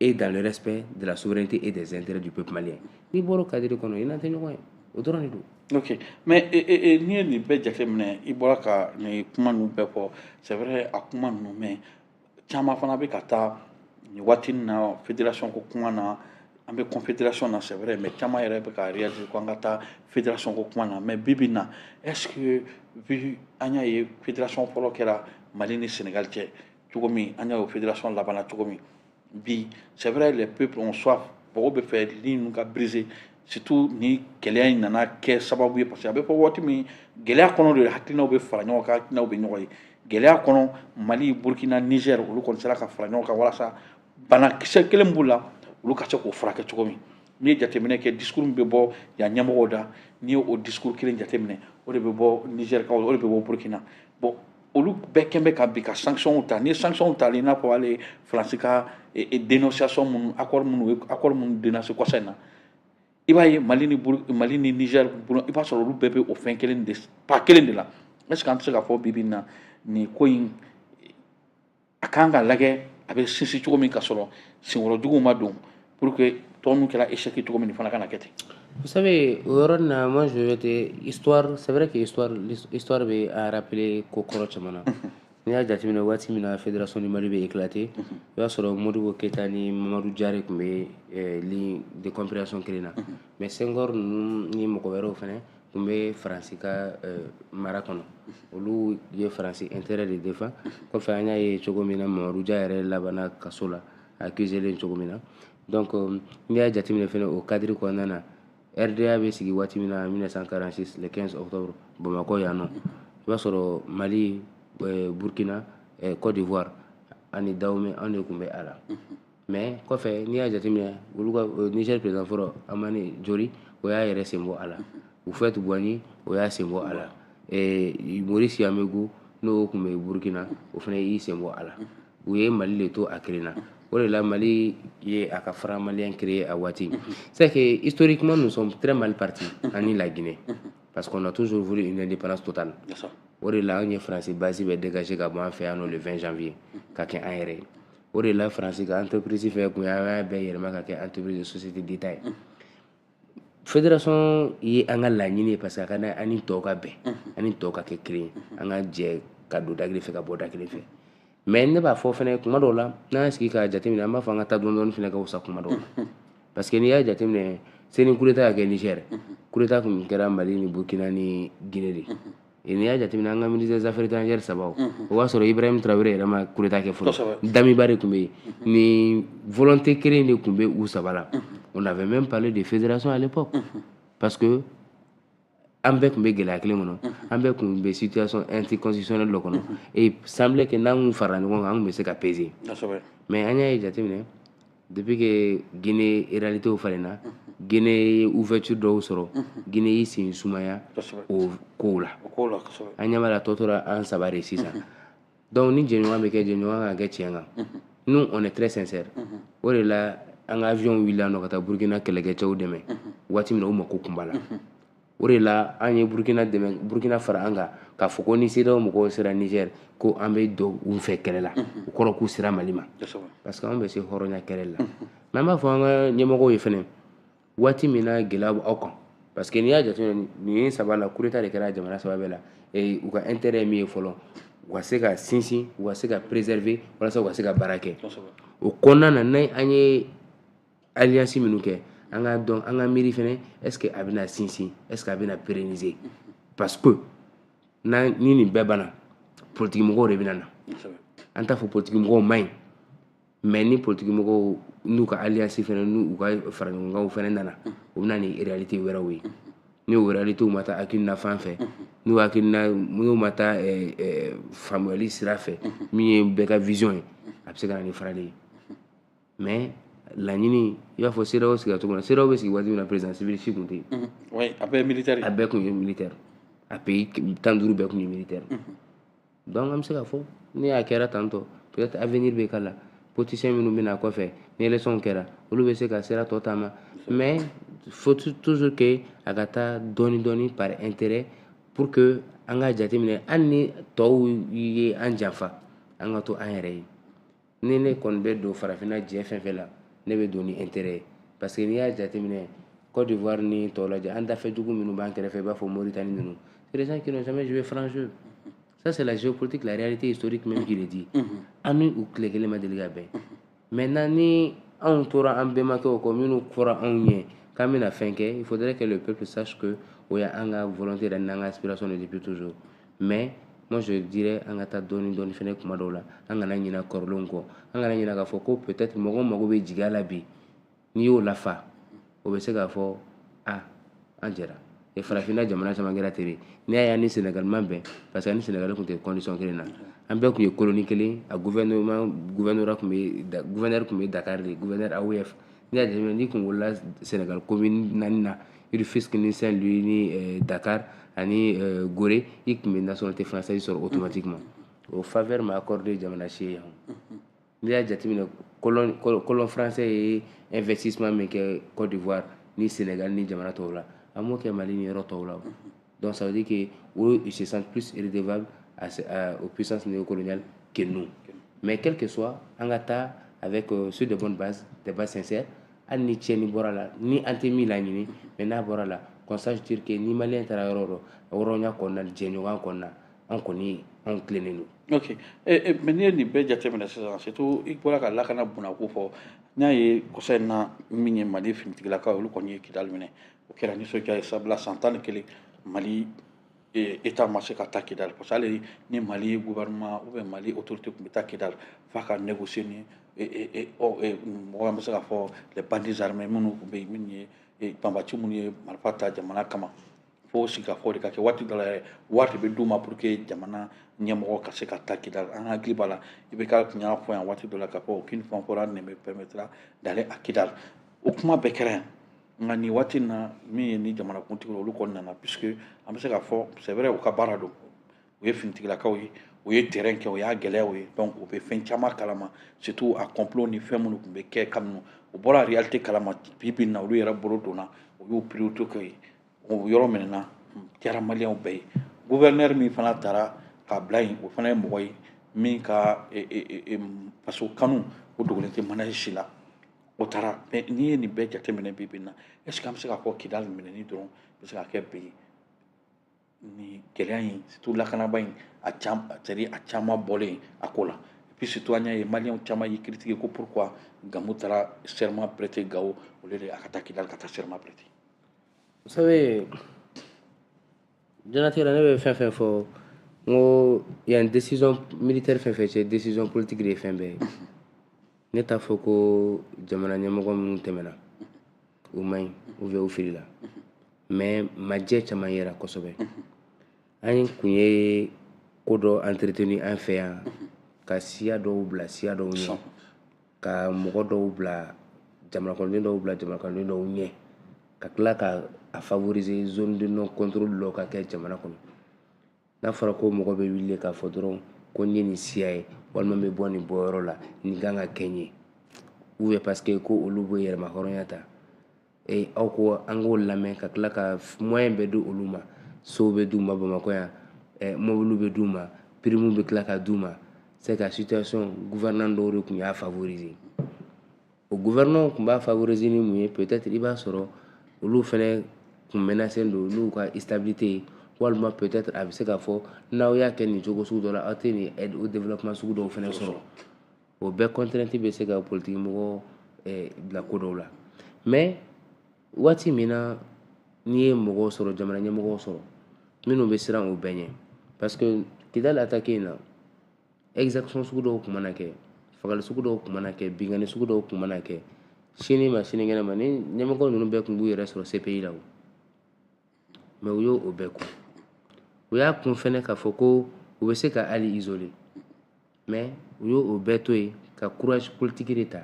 et dans le respect de la souveraineté et des intérêts du peuple malien n'i bɔra o cadre kɔnɔ i n'an tɛ ɲɔgɔn ye o dɔrɔn de don. ok mais e, e, e, n'i ye nin bɛɛ jateminɛ i bɔra ka nin kuma ninnu bɛɛ fɔ c'est vrai a kuma ninnu mais caman fana bɛ ka taa nin waati nin na fédération ko kuma na an bɛ confédération na c'est vrai mais caman yɛrɛ bɛ ka réaliser ko an ka taa fédération ko kuma na mais bi bi in na est ce que vu an y'a ye fédération fɔlɔ kɛra mali ni sénégal cɛ. cogo min an y'a ye fédération labanna cogo min bi c'est vrai les peuples ont soif mɔgɔw b'a fɛ ligne ninnu ka briser surtout ni gɛlɛya in nana kɛ sababu ye parce que a bɛ fɔ waati min gɛlɛya kɔnɔ de hakilinaw bɛ fara ɲɔgɔn kan hakilinaw bɛ ɲɔgɔn ye gɛlɛya kɔnɔ mali burkina niger olu kɔni sera ka fara ɲɔgɔn kan walasa banakisɛ kelen b'u la olu ka se k'o furakɛ cogo min n'i ye jateminɛ kɛ discours min bɛ bɔ yan ɲɛmɔgɔw da n'i ye o discours kelen jateminɛ o de bɛ bɔ nizɛrikaw o de bɛ bɔ burkina bon olu bɛɛ kɛn bɛ ka bi ka sanctions ta ni sanctions tali i n'a fɔ hali faransi ka dénonciation minnu accord minnu ye accord minnu dénoncé kɔsa in na i b'a ye mali ni mali ni niger bolo i b'a sɔrɔ olu bɛɛ bɛ o fɛn kelen de pas kelen de la est ce que an tɛ se k'a fɔ bi bi in na nin ko in a k' kan ka lajɛ a bɛ sinsin cogo min ka sɔrɔ senworojugu ma don pour que tɔn kɛra e seki cogo min fana kana kɛ ten sabu o yɔrɔ na ma sɛbɛnbɛ tɛ sɛɛrɛ keɔri bɛ arapere ko kɔrɔ caman na n'i y'a jateminɛ waati min na a fɛ dɔrɔn sɔnni mari bɛ ikila ten o y'a sɔrɔ moriɔribo keyita ni mamadu jari tun bɛ depere sɔn kelen na mɛ senkɔrɔ ninnu ni mɔgɔ wɛrɛw fana tun bɛ faransi ka eh, mara kɔnɔ olu ye faransi intérêt de défendre kɔfɛ an y'a ye cogo min na mamadou dia yɛrɛ labanna kaso la accusé len cogo min na donc euh, n'i y'a jateminɛ fana o cadre kɔnɔna na rda bɛ sigi waati min na 1946 le 15 octobre bamakɔ yan nɔ i b'a sɔrɔ mali eh, burkina eh, côte d'ivoire ani dahomey an de tun bɛ a la mais kɔfɛ n'i y'a jateminɛ olu ka euh, Niger président fɔlɔ Hamani Diori o y'a yɛrɛ sen bɔ a la Houphouët Boigny o y'a sen bɔ a la eh, Maurice Yaméogo n'o tun bɛ Burkina o fana y'i sen bɔ a la u ye Mali de to a kelen na o de la Mali ye a ka franc malien créer a waati c'est que historiquement nous sommes très mal partis ani la Guinée parce qu'on a toujours voulu une indépendance totale o de la anw ye France base bɛɛ dégager ka bɔ an fɛ yan nɔ le 20 janvier ka kɛ an yɛrɛ ye o de la faransi ka entreprise fɛn kun y'a bɛɛ yɛlɛma ka kɛ entreprise société d'état ye fédération ye an ka laɲini ye parce que a ka di an ni tɔw ka bɛn an ni tɔw ka kɛ kelen ye an ka jɛ ka don da kelen fɛ ka bɔ da kelen fɛ mais ne b'a fɔ fana kuma dɔw la n'an y'a sigi k'a jateminɛ an b'a fɔ an ka taa dɔɔni dɔɔni fana ka wusa kuma dɔw la parce que n'i y'a jateminɛ seni coup d'état ka kɛ niger coup d'état tun kɛra mali ni burkina ni guinée de n'i y'a jateminɛ an ka ministre des affaires étrangères sabaw o b'a sɔrɔ Ibrahim Traoré yɛrɛ ma coup d'état kɛ fɔlɔ Damiba de tun bɛ yen nin volonté kelen de tun bɛ u saba la on avait même parlé de fédération à l'époque parce que an bɛɛ tun bɛ gɛlɛya kelen kɔnɔ an bɛɛ tun bɛ situation anticonstitutionnelle dɔ kɔnɔ et semblait que n'an tun farala ɲɔgɔn kan an tun bɛ se ka peser mais an y'a ye jateminɛ Depuis que Guinee réalitéw falenna unhun Guinee ye ouverture dɔw sɔrɔ unhun Guinee y'i sen sumaya kosɛbɛ o f kow la o kow la kosɛbɛ an ɲɛ b'a la a tɔ tora an 3 de ye sisan unhun donc ni jɛɲɔgɔnya bɛ kɛ jɛɲɔgɔnya ka kɛ tiɲɛ kan unhun nous on est très sincère unhun o de la an ka avion wulila yan nɔ ka taa Burkina kɛlɛkɛcɛw dɛmɛ unhun waati min na u mako tun b'a la unhun o de la an ye Burkina dɛmɛ Burkina fara an kan k'a fɔ ko ni CEDEAO mɔgɔw sera Niger ko an bɛ don u fɛ kɛlɛ la o kɔrɔ k'u sera Mali ma parce que an bɛ se hɔrɔnya kɛlɛ la mais an b'a fɔ an ka ɲɛmɔgɔw ye fɛnɛ waati min na gɛlɛya b'aw kan parce que n'i y'a jateminɛ nin ye saba la coup d'état de kɛra jamana saba bɛɛ la u ka intérêt ye min ye fɔlɔ u ka se ka sinsin u ka se ka préserver walasa u ka se ka baara kɛ o kɔnɔna na ni an ye alliance minnu kɛ an k'a dɔn an ka miiri fɛnɛ est ce que a bɛna sinsin est ce que a bɛna pérenniser parce que n'a ni nin bɛɛ banna politikimɔgɔw de bɛna na an t'a fɔ politikimɔgɔw man ɲi mais ni politikimɔgɔw n'u ka alliance fɛnɛ n'u ka faraɲɔgɔnkanw fɛnɛ nana u bɛ na ni réalité wɛrɛw ye ni o réalitéw ma taa hakilina fan fɛ n'u hakilina n'u ma taa eh, eh, faamuyali sira fɛ min ye bɛɛ ka vision ye a bɛ se ka na ni farali ye mais laɲini i b'a fɔ CEDEAO sigira cogo min na CEDEAO bɛ sigi waati min na président civil si tun tɛ yen mhm. oui a bɛɛ militaire a bɛɛ tun ye militaire a pays tan duuru bɛɛ tun ye militaire mhm. donc an bɛ se k'a fɔ ni a kɛra tan tɔ peut être avenir bɛ k'a la politicien minnu bɛ na kɔfɛ ni élection kɛra olu bɛ se ka sira tɔ taama mais faut toujours que a ka taa dɔɔni dɔɔni par intérêt pour que an ka jateminɛ hali ni tɔw ye an janfa an ka to an yɛrɛ ye ni ne kɔni bɛ don farafinna jɛ fɛn fɛn la ne bɛ don ni intérêt ye parce que n'i y'a jateminɛ Côte d'Ivoire ni tɔw lajɛ an dafɛdugu minnu b'an kɛrɛfɛ i b'a fɔ Mauritanie ninnu c'est des gens qui n'ont jamais joué franc jeu ça c'est la géopolitique la réalité historique même qui le dit an ni u tile kelen ma deli ka bɛn maintenant ni anw tora an bɛnbakɛw kɔ minnu fɔra anw ɲɛ k'an bɛna fɛn kɛ il faudrait que le peuple sache que o y'an ka volonté yɛrɛ n'an ka aspiration de depuis toujours mais moi je dirais an ka taa dɔɔni dɔɔni fɛnɛ kuma dɔw la an kana ɲina kɔrɔlenw kɔ an kana ɲina k'a fɔ ko peut-être mɔgɔw mago bɛ jigiya la bi n'i y'o lafa o bɛ se k'a fɔ a an jɛra e farafinna jamana caman kɛra ten de n'i y'a ye an ni Sénégal ma bɛn parce que an ni Sénégal tun tɛ condition kelen na an bɛɛ tun ye colonie kelen a gouvernement gouverneur tun bɛ gouverneur tun bɛ Dakar de gouverneur AOF N'i y'a jateminɛ n'i kun wolola Senegal commune naani na Rufisque ni Saint Louis ni euh, Dakar ani euh, Gorée i tun bɛ nationalité française sɔrɔ automatiquement o faveur ma accordé jamana si ye yan n'i y'a jateminɛ colon colon français ye investissement min kɛ Côte d'Ivoire ni Senegal ni jamana tɔw la a m'o kɛ Mali ni yɔrɔ tɔw la Donc ça veut dire que eux, ils se sentent plus redevables à, à, aux puissances néocoloniales que nous. Mais quel que soit, an ka taa avec euh, sur de bonnes bases, des bases sincères, hali ni tiɲɛni bɔra la ni an tɛ min laɲini mais n'a bɔra la qu'on sache dire que ni maliyɛn taara yɔrɔ o yɔrɔ hɔrɔnya kɔnɔna jɛɲɔgɔnya kɔnɔna an kɔni anw tilennen don ok eh, eh, mais n'i ye nin bɛɛ jateminɛ sisan surtout i bɔra ka lakana bunako fɔ n y'a ye kɔsa in na min ye mali finitigilakaw olu kɔni ye kidali minɛ o kɛra nisɔndiya ye sabula san tan ni kelen mali État ma se ka taa kidali parce que hali ni mali gouvernement ou bien mali autorité tun bɛ taa kidali f'a ka négocier ni mɔgɔ an bɛ se k'a fɔ les bandits armés minnu tun bɛ yen minnu ye banbati minnu ye marifa ta jamana kama fo sigikafɔ de ka kɛ waati dɔ la yɛrɛ wari de bɛ d'u ma pour que jamana ɲɛmɔgɔ ka se ka taa kidali an ka hakili b'a la IBK tun y'a fɔ yan waati dɔ la k'a fɔ aucune fanfaronnade ne me permettra d'aller à kidali o kuma bɛɛ kɛra yan nka nin waati na min ye ni jamanakuntigi olu kɔni nana puisque an bɛ se k'a fɔ c'est vrai u ka baara don u ye finitigilakaw ye u ye terrain kɛ u y'a gɛlɛyaw ye donc u bɛ fɛn caman kalama surtout a complot ni fɛn minnu tun bɛ kɛ kabini u b'o réalité kalama bi bi in na olu yɛrɛ bolo donna u y'u priorité kɛ yen o yɔrɔ minɛna diyara maliyɛnw bɛɛ ye gouverneur min fana taara k'a bila yen o fana ye mɔgɔ ye min ka faso kanu o dogolen tɛ maliyɛn si la o taara mais n'i ye nin bɛɛ jateminɛ bi bi in na est ce que an bɛ se k'a fɔ kidali minɛni dɔrɔn bɛ se k'a kɛ bi nin gɛlɛya in surtout lakanaba in a caman c'est a caman bɔlen a ko la et puis surtout an y'a ye maliyɛnw caman y'i critiquer ko pourquoi gamu taara serment prêter gawo au lieu de a ka taa kidali ka taa serment prêter vous savez diɲɛlatigɛ la ne bɛ fɛn fɛn fɔ n ko yan décision militaire fɛn fɛn cɛ décision politique de ye fɛn bɛɛ ye ne t'a fɔ ko jamana ɲɛmɔgɔ minnu tɛmɛna u man ɲi ou bien u filila mais majɛ caman yera kosɛbɛ an kun ye ko dɔ entretenu an fɛ yan ka siya dɔw bila siya dɔw ɲɛ ka mɔgɔ dɔw bila jamanakɔnɔden dɔw bila jamanakɔnɔden dɔw ɲɛ ka tila ka a favoriser zone de non contrôle dɔ ka kɛ jamana kɔnɔ n'a fɔra ko mɔgɔ bɛ wuli k'a fɔ dɔrɔn ko n ye nin siya ye walima n bɛ bɔ nin bɔyɔrɔ la nin kan ka kɛ n ye ou bien parce que ko olu bɛ yɛrɛmahɔrɔnya ta ee aw ko an k'o lamɛn ka tila ka moyen bɛɛ di olu ma sow bɛɛ d'u ma bamakɔ yan eh, mobiliw bɛɛ d'u ma pirimu bɛɛ tila ka d'u ma c'est que situation gouvernement dɔw de tun y'a favoriser o gouvernement tun b'a favoriser ni mun ye peut-être i b'a sɔrɔ olu fɛnɛ kun menacen don n'u ka stabilité ye walima peut-être a bɛ se k'a fɔ n'aw y'a kɛ nin cogo sugu dɔ la aw tɛ nin aide au développement sugu dɔw fɛnɛ sɔrɔ o bɛɛ contrainte bɛ se ka politiki mɔgɔ eh, bila ko dɔw la mɛ waati min na n'i ye mɔgɔw sɔrɔ jamana ɲɛmɔgɔw sɔrɔ minnu bɛ siran o bɛɛ ɲɛ parce que kidali atake in na exaction sugu dɔw tun mana kɛ fagali sugu dɔw tun mana kɛ binkanni sugu dɔw tun mana kɛ sini ma sinikɛnɛ ma ni ɲɛmɔgɔ ninnu bɛɛ tun b'u yɛrɛ sɔrɔ cpi la o mɛ u y'o o bɛɛ kun u y'a kun fɛnɛ k'a fɔ ko u bɛ se ka hali isole mɛ u y'o o bɛɛ to yen ka courage politiki de ta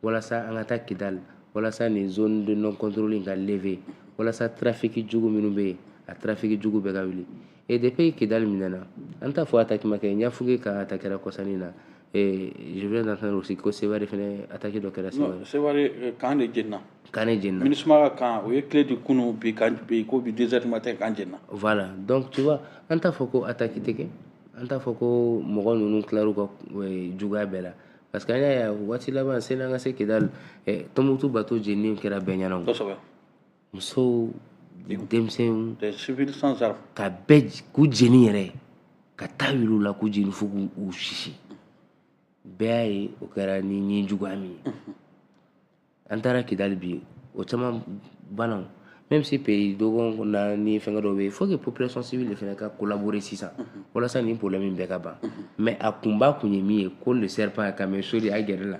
walasa an ka taa kidali walasa nin zone de non contrôle in ka leve walasa trafiki jugu minnu bɛ yen a trafiki jugu bɛɛ ka wuli et depuis kidali minɛna an t'a fɔ atake ma kɛ ɲafunke kan atakera kɔsa in na Ee je viens d'entendre aussi ko Seware fɛnɛ attaque dɔ kɛra Seware. Non, Seware euh, kan de jenna. Kan de jenna. Minusma ka kan, u ye clé di kunun bi kan bi ko bi deux heures du matin kan jenna. Voilà, donc tu vois, an t'a fɔ ko attaque tɛ kɛ, an t'a fɔ ko mɔgɔ ninnu tilar'u ka euh, juguya bɛɛ la. parce que an y'a ye waati laban sani an ka se kidali eh, tɔnbukutu bato jenini kɛra bɛɛ ɲɛna kosɛbɛ musow denmisɛnw ka bɛɛ k'u jeni yɛrɛ ka ta wuli u la k'u jeni fo k'u sisi bɛɛ y'a ye o kɛra ni nijuguya min ye an taara kidali bi o caman banna même si pays dɔgɔkun na ni fɛngɛ dɔw bɛ yen faut que population civile de fɛnɛ ka collaborer sisan walasa nin problème in bɛɛ ka ban mais a kunba kun ye min ye ko le serpent a kame soli a gɛrɛ la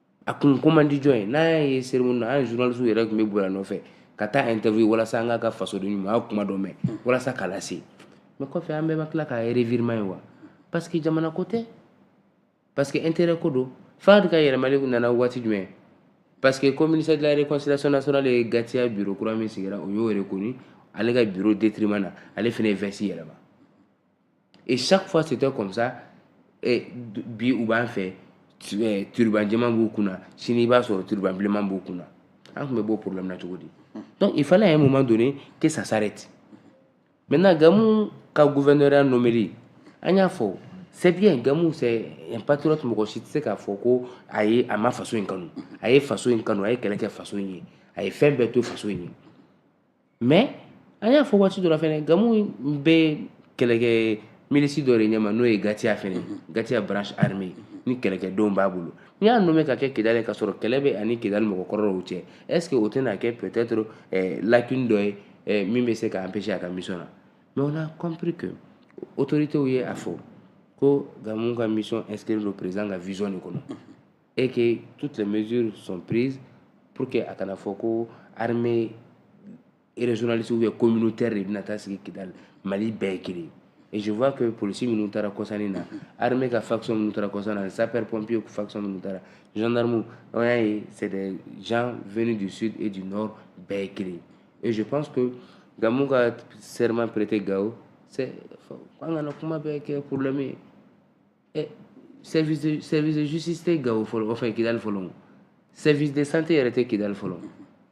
a kun ko man di jɔn ye n'a y'a ye cérémonie na anw journaliste yɛrɛ tun bɛ boli a nɔfɛ ka t'a interview walasa an k'a ka fasodenɲumanya kuma dɔ mɛn walasa k'a lase mɛ kɔfɛ an bɛɛ ma tila k'a revirement ye wa parce que jamana ko tɛ parce que intérêt ko don fahad ka yɛlɛmali nana waati jumɛn parce que comme ministère de la réconciliation nationale ye gatia bureau kura min sigira o y'o reconnu ale ka bureau détriment na ale fɛnɛ ye veste yɛlɛma Et chaque fois, c'était comme ça. Et bi u b'an fɛ eh, turuban jɛman b'u kunna sini i b'a sɔrɔ turuban bilenman b'u kunna an tun bɛ b'o problème na cogo di donc il fallait à un moment donné que ça s'arrête maintenant gamu ka gouverneur nomeli an y'a fɔ c'est bien gamu c'est un patriote mɔgɔ si tɛ se k'a fɔ ko a ye a ma faso in kanu a ye faso in kanu a ye kɛlɛ kɛ faso in ye a ye fɛn bɛɛ to faso in ye mais an y'a fɔ waati dɔ la fɛnɛ gamu bɛ kɛlɛkɛ milisi dɔ de ɲɛma n'o ye gatiya fɛnɛ mhm. gatiya branche armée mhm. ni kɛlɛkɛdenw b'a bolo n'i y'a nommé ka kɛ kidali ka sɔrɔ kɛlɛ bɛ ani kidali mɔgɔ kɔrɔ dɔw cɛ est-ce que o tɛna kɛ peut-être eh, lacune dɔ ye eh, min bɛ se ka empêcher a ka mission na mais on a compris que autorités ye a fɔ ko gamu ka mission inscrire le président ka vision de kɔnɔ mhm. et que toutes les mesures sont prises pour que a kana fɔ ko armée régionaliste ou communautaire de bɛna taa sigi Kidali Mali bɛɛ ye kelen et je vois que polisi minnu taara kɔsa in na armée ka faction minnu taara kɔsa in na sapeur pompier faction minnu taara gendarme an y'a ye c'est des gens venus du sud et du nord bɛɛ ye kelen et je pense que Gamou ka serment prêté Gao c'est an kana kuma bɛɛ kɛ problème ye eh, service de service de justice tɛ gawo fɔlɔ enfin kidali fɔlɔ service de santé yɛrɛ tɛ kidali fɔlɔ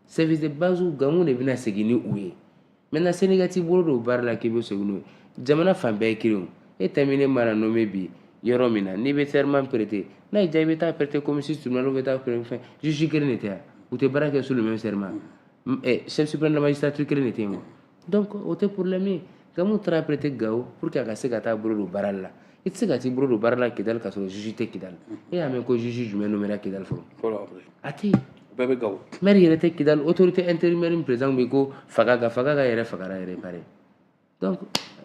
service de base gamu de bɛna segin ni u ye maintenant sani i ka t'i bolo don baara la k'i bɛ segin n'o ye jamana fan bɛɛ ye kelen o e tɛmɛnen mana nommé bi yɔrɔ min na n'i bɛ serment prêter n'a y'i diya i bɛ taa prêter commune six tribunal bɛ taa prêter fɛn juge kelen de tɛ yan u tɛ baara kɛ sous le même serment chef suprême de la magistrature kelen de tɛ yen wa donc o tɛ problème ye gamu taara prêter gawo pour que a ka se ka taa bolo don baara la i tɛ se ka t'i bolo don baara la kidali ka sɔrɔ juge tɛ kidali e y'a mɛn ko juge jumɛn nomera kidali fɔlɔ a tɛ yen bɛɛ bɛ gawo maire yɛrɛ tɛ kidali autorité intérimaire min président bɛ ko fagaga fagaga yɛrɛ fagara yɛrɛ pare donc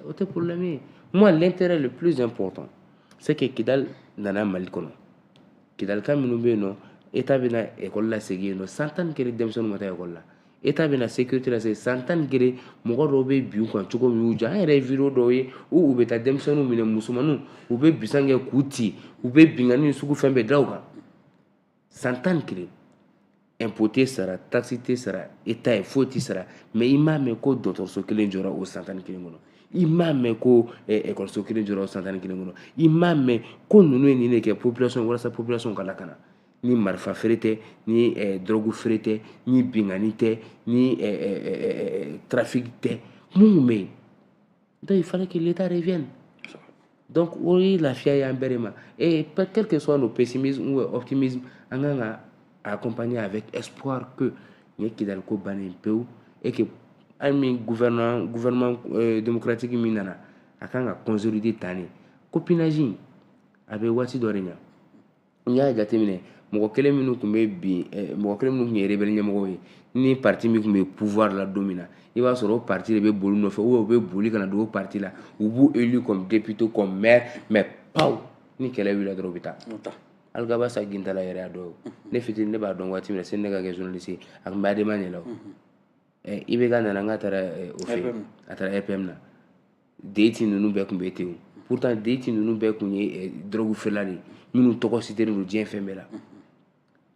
o tɛ problème ye moi l'intérêt le plus important c'est que kidali nana mali kɔnɔ kidalika minnu bɛ yen nɔ état bɛna école lasegin yen nɔ san tan ni kelen denmisɛnninw ma taa école la état bɛna sécurité lasegin san tan ni kelen mɔgɔ dɔw bɛ bin u kan cogo min y'u diya an yɛrɛ ye video dɔw ye u u bɛ taa denmisɛnninw minɛ musomanninw u bɛ bisan kɛ k'u ci u bɛ binkanni sugu fɛn bɛɛ da u kan san tan ni kelen impôt tɛ sara taxe tɛ sara état ye foyi tɛ sara mais i m'a mɛn ko dɔgɔtɔrɔso kelen jɔra o san tan ni kelen kɔnɔ i m'a mɛn ko ekɔliso eh, kelen jɔra o san tan ni kelen kɔnɔ i m'a mɛn ko ninnu ye nin de kɛ population walasa population ka lakana ni marifa feere tɛ ni dɔrɔgu feere tɛ ni binkanni tɛ ni trafiki tɛ mun bɛ yen donc il fallait que l'état revienne donc o ye lafiya y'an bɛɛ de ma et quel que soit nos pessimisme ou optimisme an kan ka accompagner avec espoir que nin ye kidali ko bannen pewu et que an min gouvernement gouvernement euh, démocratique min nana a kan ka consolider tan de copinage in a bɛ waati dɔ de ɲa n y'a jateminɛ mɔgɔ kelen minnu tun bɛ bin eh, mɔgɔ kelen minnu tun ye rebelle ɲɛmɔgɔw ye ni parti min tun bɛ pouvoir la don min na i b'a sɔrɔ o parti de bɛ boli nɔfɛ ou u bɛ boli ka na don o parti la u b'u élu comme député comme maire mais paw ni kɛlɛ wulila dɔrɔn u bɛ taa alghabass ag intalla yɛrɛ y'a dɔn ne fitini ne b'a dɔn waati min na sani ne ka kɛ journaliste ye a tun bɛ adema de la o eh, ibk nana n ka taara eh, o fɛ yen a taara rpm na député ninnu bɛɛ tun bɛ ten o pourtant député ninnu bɛɛ tun ye eh, dɔrɔgu feerela de ye minnu tɔgɔ siteren don diɲɛ fan bɛɛ la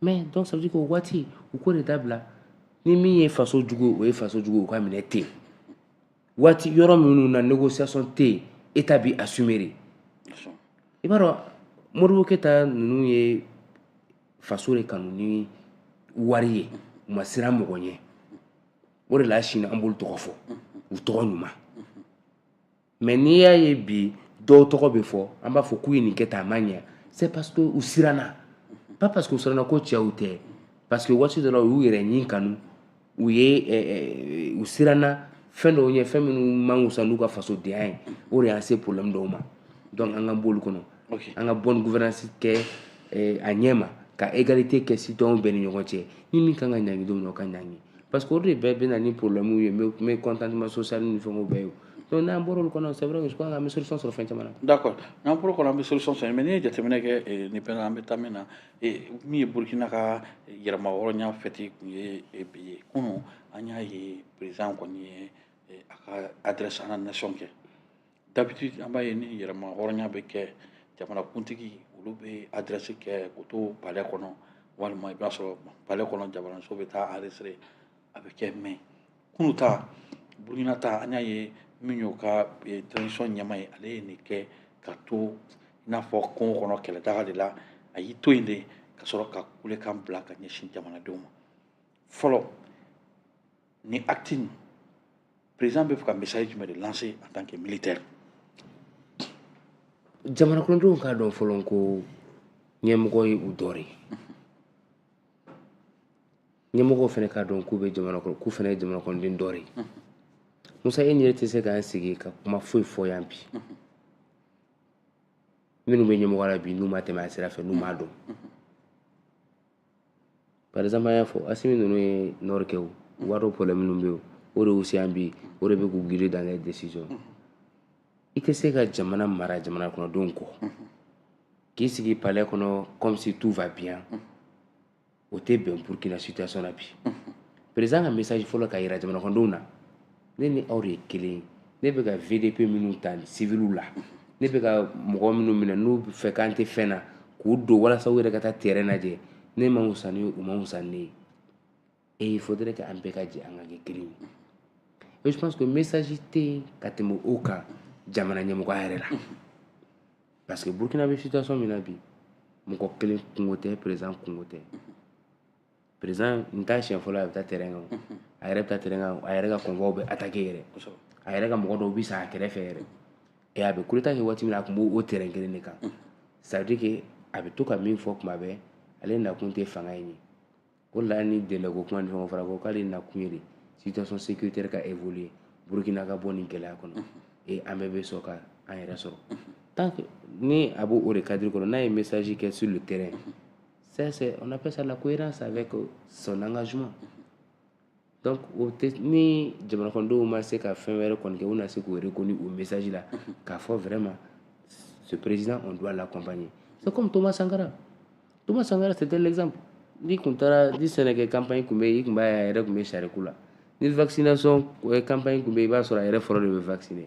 mais donc ça veut dire que o waati u k'o de dabila ni min ye faso jugu ye o ye faso jugu ye o ka minɛ ten waati yɔrɔ minnu na négociation tɛ yen état b'i assumer de i b'a dɔn modibo keyita ninnu ye faso de kanu ni wari ye u ma siran mɔgɔ ɲɛ o de la sini an b'olu tɔgɔ fɔ u tɔgɔ ɲuman mais n'i y'a ye bi dɔw tɔgɔ bɛ fɔ an b'a fɔ k'u ye nin kɛ tan a ma ɲɛ c'est parce que u siranna pas parce que u siranna ko cɛw tɛ parce que waati dɔ la u y'u yɛrɛ nin kanu u ye u siranna fɛn dɔw ɲɛ fɛn minnu man wusa n'u ka fasodenya ye o de y'an se problème dɔw ma donc an ka b'olu kɔnɔ an ka bonne gouvernance kɛ a ɲɛ ma ka égalité kɛ citoyenw bɛɛ ni ɲɔgɔn cɛ ni min kan ka ɲangi don min o ka ɲangi parce que o de bɛɛ bɛ na ni problème ye mécontentement social ni fɛnw bɛɛ ye donc n'an bɔra olu kɔnɔ c'est vrai que je crois an bɛ solution sɔrɔ fɛn caman na d'accord n'an bɔra o kɔnɔ an bɛ solution sɔrɔ mais n'i ye jateminɛ kɛ nin bɛɛ la an bɛ taa min na min ye burukina ka yɛrɛma hɔrɔnya fɛti tun ye bi ye kunun an y'a ye président kɔni ye a ka adresse à la nation kɛ d'habitude an b'a ye ni yɛrɛma hɔrɔnya bɛ kɛ jamanakuntigi olu bɛ adresse kɛ k'u to palais kɔnɔ walima i b'a sɔrɔ palais kɔnɔ jamanaso bɛ taa enregistrer a bɛ kɛ mais kunun ta burukina ta an y'a ye min y'o ka eh, transition ɲɛmaa ye ale ye nin kɛ ka to i n'a fɔ kungo kɔnɔ kɛlɛdaga de la a y'i to yen de ka sɔrɔ ka kulekan bila ka ɲɛsin jamanadenw ma fɔlɔ ni acte nin président bɛ fɛ ka message jumɛn de lancer en tant que militaire jamana kɔnɔdenw k'a dɔn fɔlɔ ko ɲɛmɔgɔ ye u dɔ de ye ɲɛmɔgɔw fana k'a dɔn k'u bɛ jamana kɔnɔ k'u fana ye jamana kɔnɔden dɔ de ye musa e ni n yɛrɛ tɛ se k'an sigi ka kuma foyi fɔ yan bi minnu bɛ ɲɛmɔgɔ la bi n'u ma tɛmɛ a sira fɛ n'u m'a dɔn par exemple an y'a fɔ asimi ninnu ye nord kɛ o u b'a dɔn problème minnu bɛ yen o de y'u se yan bi o de bɛ k'u guider dans les décisions i tɛ se ka jamana mara jamana kɔnɔdenw kɔ k'i sigi palais kɔnɔ comme si tout va bien o tɛ bɛn burkina situation na bi président ka message fɔlɔ ka yira jamanakɔnɔdenw na ne ni aw de ye kelen ye ne bɛ ka vdp minnu ta civiliw la ne bɛ ka mɔgɔ minnu minɛ n'u b'a fɔ k'an tɛ fɛn na k'u don walasa u yɛrɛ ka taa terrain lajɛ ne man wusa ni u man wusa ni ne ye et il faudrait que an bɛɛ ka jɛ an ka kɛ kelen ye et je pense que message tɛ yen ka tɛmɛ o kan jamana ɲɛmɔgɔya yɛrɛ la parce que burkina bɛ situation min na bi mɔgɔ kelen kunko tɛ président kunko tɛ président nin t'a siɲɛ fɔlɔ a bɛ taa terrain kan o a yɛrɛ bɛ taa terrain kan o a yɛrɛ ka convois bɛ attaquer yɛrɛ a yɛrɛ ka mɔgɔ dɔw bɛ sa a kɛrɛfɛ yɛrɛ et a bɛ coup d'état kɛ waati min na a tun b'o terrain kelen de kan ça veut dire que a bɛ to ka min fɔ tuma bɛɛ ale nakun tɛ fanga in ye O la ni délai ko kuma ni fɛnw fɔra ko k'ale nakun ye de situation sécuritaire ka évoluer Burkina ka bɔ nin gɛlɛya kɔnɔ et an bɛɛ bɛ sɔn ka an yɛrɛ sɔrɔ tant que ni a b'o de cadre kɔnɔ n'a ye message kɛ sur le terrain ça c'est on appelle ça la cohérence avec son engagement donc o tɛ ni jamana kɔnɔdenw ma se ka fɛn wɛrɛ kɔni kɛ u na se k'o reconnu o message la k'a fɔ vraiment ce président on doit l'accompagner c'est comme Thomas Sankara Thomas Sankara c'était l'exemple n'i kun taara ni sɛnɛkɛ campagne kun bɛ yen i kun b'a ye a yɛrɛ kun bɛ sariku la ni vaccination campagne kun bɛ yen i b'a sɔrɔ a yɛrɛ fɔlɔ de bɛ vacciner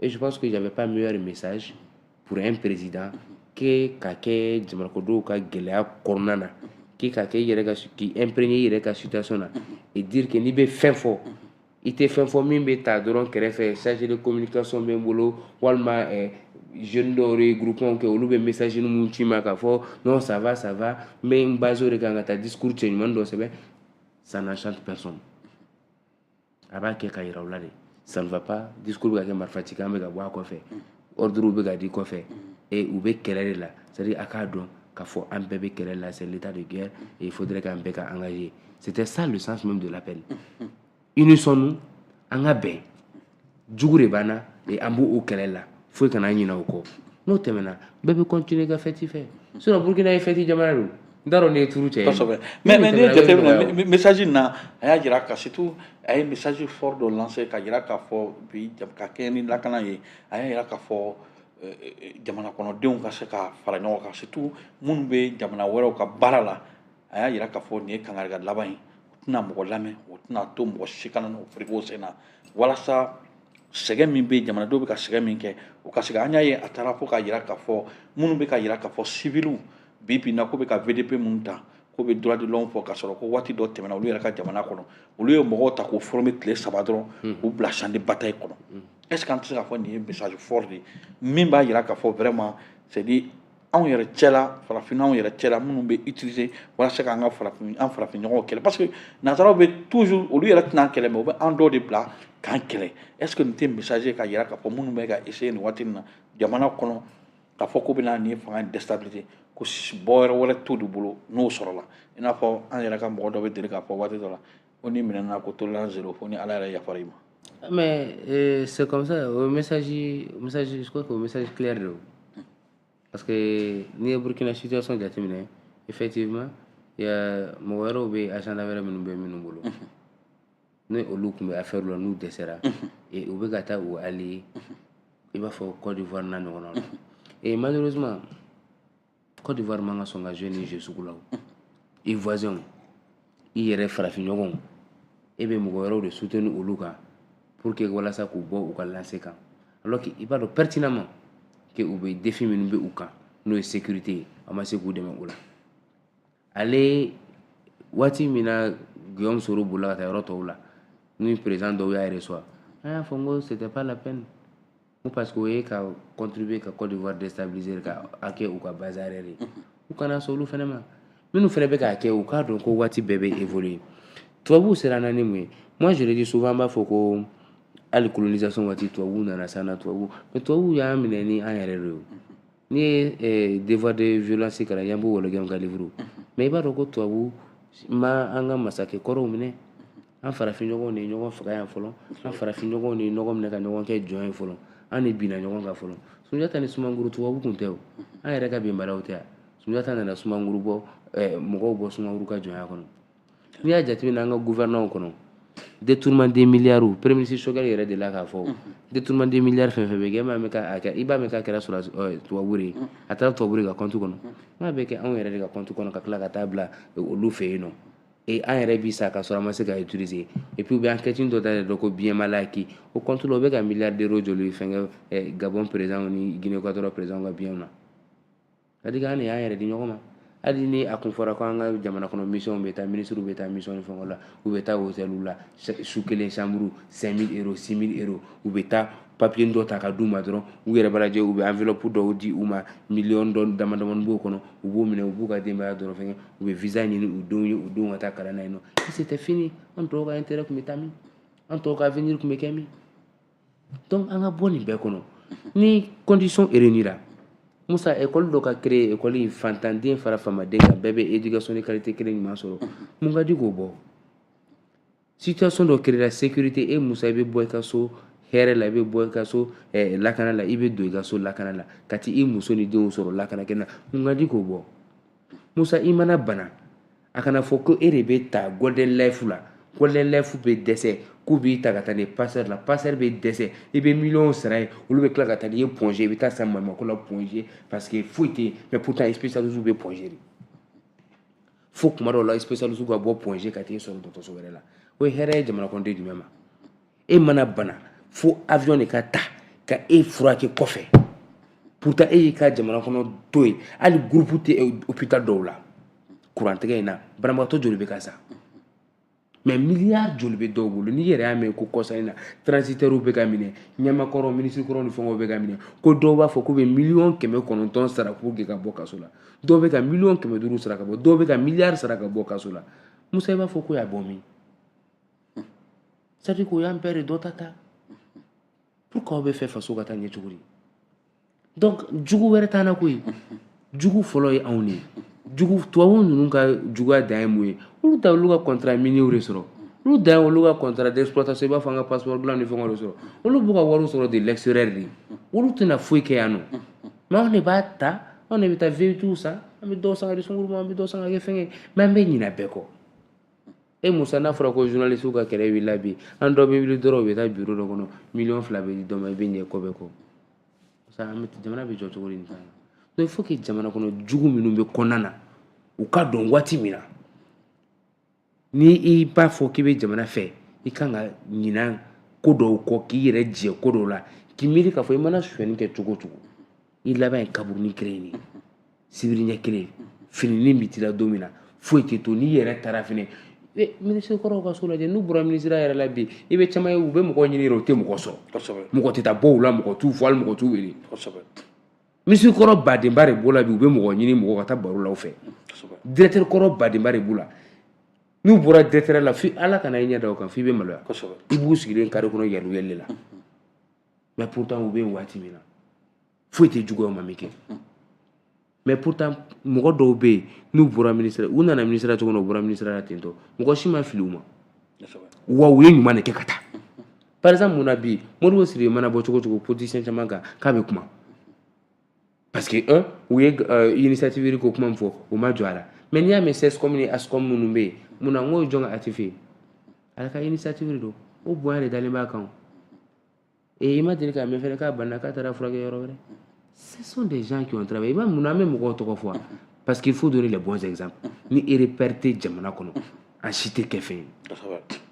Et je pense que y avait pas meilleur message pour un président que ka kɛ jamana kɔnɔdenw ka gɛlɛya kɔnɔna na k'i ka kɛ i yɛrɛ ka k'i imprégner i yɛrɛ ka situation na et dire que n'i bɛ fɛn fɔ i tɛ fɛn fɔ min bɛ ta dɔrɔn kɛrɛfɛ chargé de communication bɛ n bolo walima eh, jeunes dɔw ye groupement kɛ olu bɛ message minnu ci n ma k'a fɔ non ça va ça va n bɛ n baser o de kan ka taa discours cɛ ɲuman dɔ sɛbɛn ça n'enchante personne a b'a kɛ ka yira u la de ça ne va pas discours bɛ ka kɛ marifacikan bɛ ka bɔ a kɔfɛ ordre bɛ ka di kɔfɛ et u bɛ kɛlɛ de la c'est à dire a k'a dɔn k'a fɔ an bɛɛ bɛ kɛlɛ la c'est l'état de guerre et il faudrait k'an bɛɛ ka engager c'était ça le sens même de l'appel unissons nous an ka bɛn jugu de b'an na et an b'o kɛlɛ la foyi kana ɲinɛ o kɔ n'o tɛmɛna bɛɛ bɛ continuer ka fête fɛ sinon burkina ye fête jamana don n t'a dɔn n'i ye turu cɛ ye kosɛbɛ mais mais n'i ye jateminɛ message in na a y'a jira ka surtout a ye message fort dɔ lancer ka jira k'a fɔ bi ka kɛɲɛ ni lakana ye a y'a jira k'a fɔ euh, euh, jamana kɔnɔdenw ka se ka fara ɲɔgɔn kan surtout minnu bɛ jamana wɛrɛw ka baara la a y'a jira k'a fɔ nin ye kangarida laban ye o tɛna mɔgɔ lamɛn o tɛna to mɔgɔ si kana n'o fereke o sen na walasa sɛgɛn min bɛ yen jamanadenw bɛ ka sɛgɛn min kɛ o ka se an y'a ye a taara fo ka yira k'a fɔ minnu bɛ ka yira k'a fɔ siviliw bi bi in na k'u bɛ ka vdp minnu ta k'u bɛ droit de l'homme fɔ k'a sɔrɔ ko waati dɔ tɛmɛna olu yɛrɛ ka jamana kɔnɔ olu ye mɔgɔw ta k'u former tile saba dɔrɔn hmm. k'u bila champ de bataille kɔnɔ hmm. est ce que an tɛ se k'a fɔ nin ye message fort de ye min b'a yira k'a fɔ vraiment c'est anw yɛrɛ cɛla farafin anw yɛrɛ cɛla minnu bɛ utiliser walasa k'an ka farafin an farafinɲɔgɔnw kɛlɛ parce que nanzaraw bɛ toujours olu yɛrɛ tɛna an kɛlɛ mais u bɛ an dɔw de bila k'an kɛlɛ est ce que nin tɛ message ye ka yira k'a fɔ minnu bɛ ka essayer nin waati nin na jamana kɔnɔ k'a fɔ k'u bɛna nin fanga in déstabiliser ko bɔyɔrɔ wɛrɛ t'olu bolo n'o sɔrɔla i n'a fɔ an yɛrɛ ka mɔgɔ dɔ bɛ deli k'a fɔ waati dɔ la ko n'i minɛna ko tolérance zéro fo ni ala yɛrɛ yafara i ma mais euh, c'est comme ça o message message je crois que o message clair de don parce que n'i ye Burkina situation jateminɛ effectivement mɔgɔ wɛrɛw bɛ yen agenda wɛrɛ minnu bɛ minnu bolo ni olu tun bɛ affaire la n'u dɛsɛra u bɛ ka taa u allier i b'a fɔ Côte d'Ivoire n'a ɲɔgɔnnaw la et malheureusement Côte d'Ivoire man ka sɔn ka jouer ni jeu sugu la o i voisinw i yɛrɛ farafinɲɔgɔnw e bɛ mɔgɔ wɛrɛw de soutenir olu kan pour que walasa k'u bɔ u ka lancée kan alors que i b'a dɔn pertinemment que u bɛ défi minnu bɛ u kan n'o ye sécurité ye a ma se k'u dɛmɛ o la ale waati min na Guillaume Soro bolila ka taa yɔrɔ tɔw la ni président dɔw y'a recevoir an y'a fɔ n ko c'était pas la peine ko parce que o ye ka contribuer ka Côte d'Ivoire déstabiliser ka a kɛ u ka base arrière ye u kana sɔn olu fana ma minnu fana bɛ k'a kɛ u k'a dɔn ko waati bɛɛ bɛ évoluer tubabuw ser'an na ni mun ye moi je le dis souvent an b'a fɔ ko hali colonisation waati tubabuw nana s'an na tubabuw mais tubabuw y'an minɛ ni an yɛrɛ de ye n'i ye eh, devoir de violence kalan Yambo Ouologuem ka livre mais i b'a dɔn ko tubabuw ma an ka masakɛ kɔrɔw minɛ an farafinɲɔgɔnw de ye ɲɔgɔn faga yan fɔlɔ an farafinɲɔgɔnw de ye ɲɔgɔn minɛ ka ɲɔgɔn kɛ jɔn ye fɔlɔ an de binna ɲɔgɔn kan fɔlɔ Sunjata ni Sumanguru tubabu kun tɛ o an yɛrɛ ka bɛnbalaw tɛ a Sunjata nana Sumanguru bɔ eh, mɔgɔw bɔ Sumanguru ka jɔnya kɔnɔ n'i y'a jateminɛ an ka gouvernement kɔnɔ détournement des milliards premier ministre Choguel yɛrɛ delila k'a fɔ détournement des milliards fɛn fɛn bɛ kɛ e m'a mɛn k'a kɛ i b'a mɛn k'a kɛra sɔrɔ eh, tubabu de ye a taara tubabu de ka compte kɔnɔ n'a bɛ kɛ anw yɛrɛ de ka compte kɔnɔ ka tila ka taa bila eh, olu fɛ yen nɔ et an yɛrɛ bi sa ka sɔrɔ an ma se ka utiliser et puis u bɛ enquête dɔ dayɛlɛ dɔ ko biens mal acquis o compte la o bɛ ka milliards d'euros joli fɛnkɛ eh, Gabon président ni Guinée Equatoriale président ka biens na c'est-à-dire an de y'an yɛrɛ di ɲɔgɔn ma hali ni a kun fɔra ko an ka jamana kɔnɔ mission bɛ taa minisiriw bɛ taa mission ni fɛnkɛw la u bɛ taa hôtelw la su kelen chambre 5000 euro 6000 euro u bɛ taa papier dɔ ta ka d'u ma dɔrɔn u yɛrɛ b'a lajɛ u bɛ enveloppe dɔw di u ma miliyɔn dɔ dama damani b'o kɔnɔ u b'o minɛ u b'u ka denbaya dɔrɔn fɛnkɛ u bɛ visa ɲini u denw ye u denw ka taa kalan na yen nɔ c'était fini an tɔw ka intérêt tun bɛ taa min an tɔw ka avenir tun bɛ kɛ min donc an ka bɔ nin bɛɛ kɔnɔ ni condition réunira Musa école dɔ ka créer école in faantanden fara faamaden kan bɛɛ bɛ éducation de qualité kelen ɲuman sɔrɔ mun ka di k'o bɔ situation dɔ créera sécurité e Musa i bɛ bɔ i ka so hɛrɛ la i bɛ bɔ i ka so eh, lakana la i bɛ don i ka so lakana la ka t'i muso ni denw sɔrɔ lakana kɛ na mun ka di k'o bɔ Musa i mana bana a kana fɔ ko e de bɛ taa Golden Life la Golden Life bɛ dɛsɛ k'u b'i ta ka taa ni Pasteur la Pasteur bɛ dɛsɛ i bɛ miliyɔn sara yen olu bɛ tila ka taa n'i ye Point G i bɛ taa sa maɲumako la Point G parce que foyi tɛ yen mais pourtant spécialistes bɛ Point G de fo kuma dɔw la spécialiste ka bɔ Point G ka t'e sɔrɔ dɔgɔtɔrɔso wɛrɛ la o ye hɛrɛ ye jamanakɔnɔden jumɛn ma e mana bana fo avion de ka ta ka e furakɛ kɔfɛ pourtant e y'i ka jamana kɔnɔ to yen hali groupe tɛ hôpital dɔw la kurantigɛ in na banabagatɔ joli bɛ ka sa mais miliyari joli bɛ dɔw bolo n'i yɛrɛ y'a mɛn ko kɔsa in na transitɛriw bɛ ka minɛ ɲɛmaa kɔrɔ minisirikɔrɔ ni fɛngɛw bɛ ka minɛ ko dɔw b'a fɔ k'u bɛ miliyɔn kɛmɛ kɔnɔntɔn sara pour que ka bɔ kaso la dɔw bɛ ka miliyɔn kɛmɛ duuru sara ka bɔ dɔw bɛ ka miliyari sara ka bɔ kaso la musa i b'a fɔ k'u y'a bɔ min c'est-à-dire k'u y'an bɛɛ de dɔ ta ta pour que aw bɛ fɛ faso ka taa ɲɛ cogo di donc jugu wɛrɛ t'an na koyi jugu fɔlɔ ye anw de ye jugu tubabu ninnu ka juguya dan ye mun ye olu ta olu ka contrat minier de sɔrɔ olu dan ye olu ka contrat d'exploitation i b'a fɔ an ka passeport dilan ni fɛngɛw de sɔrɔ olu b'u ka wariw sɔrɔ de l'extérieur de olu tɛna foyi kɛ yan nɔ mais anw de b'a ta anw de bɛ taa veyitiw san an bɛ dɔw san ka di sunguru ma an bɛ dɔw san ka kɛ fɛngɛ mais an bɛ ɲinɛ bɛɛ kɔ e musa n'a fɔra ko journaliste ka kɛlɛ wulila bi an dɔ bɛ wuli dɔrɔn u bɛ taa bureau dɔ kɔnɔ miliyɔn fila bɛ di dɔ ma i bɛ ɲinɛ ko bɛɛ kɔ sa an bɛ jamana bɛ jɔ cogo di nin kan donc il faut que jamana kɔnɔ jugu minnu bɛ kɔnɔna na u ka dɔn waati min na ni i b'a fɔ k'i bɛ jamana fɛ i kan ka ɲina ko dɔw kɔ k'i yɛrɛ jɛ ko dɔw la k'i miiri k'a fɔ i mana sonyɛni kɛ cogo o cogo i laban ye kaburunin kelen ye sibiri ɲɛ kelen fininin bɛ t'i la don min na foyi tɛ to n'i yɛrɛ taara fɛnɛ minisiri kɔrɔw ka so lajɛ n'u bɔra minisiriya yɛrɛ la bi i bɛ caman ye u bɛ mɔgɔ ɲini yɛrɛ u tɛ mɔgɔ sɔrɔ mɔgɔ tɛ taa bɔ u la mɔgɔ t'u fo hali mɔgɔ t'u wele minisiri kɔrɔ badenba de b'o la bi u bɛ mɔgɔ ɲini mɔgɔ ka taa baro la u fɛ directeur kɔrɔ badenba de b'u la n'u bɔra directeur la fo ala kana i ɲɛ da o kan fo i bɛ maloya i b'u sigilen kare kɔnɔ yɛlɛli la mais pourtant u bɛ yen waati min na foyi tɛ juguya u ma min kɛ mais pourtant mɔgɔ dɔw bɛ yen n'u bɔra ministère u nana ministère cogo min na u bɔra ministère la ten tɔ mɔgɔ si ma fili u ma wa u ye ɲuman de kɛ ka taa par exemple mun na bi Modibo Sidibé mana bɔ cogo o cogo politicien caman kan k'a bɛ kuma parce que un u ye euh, initiative ko kuma min fɔ u ma jɔ a la mais n'i y'a mɛn CSCOM ni ASACO minnu bɛ yen mun na n k'o jɔn ka actif ye ale ka initiative don o bonya de dalen b'a kan Et i ma deli k'a mɛn fɛnɛ k'a banna k'a taara furakɛ yɔrɔ wɛrɛ ce sont des gens qui ont travaillé i b'a mun na an bɛ mɔgɔw tɔgɔ fɔ a parce qu'il faut donner les bons exemples ni e repère tɛ jamana kɔnɔ an si tɛ kɛ fɛn ye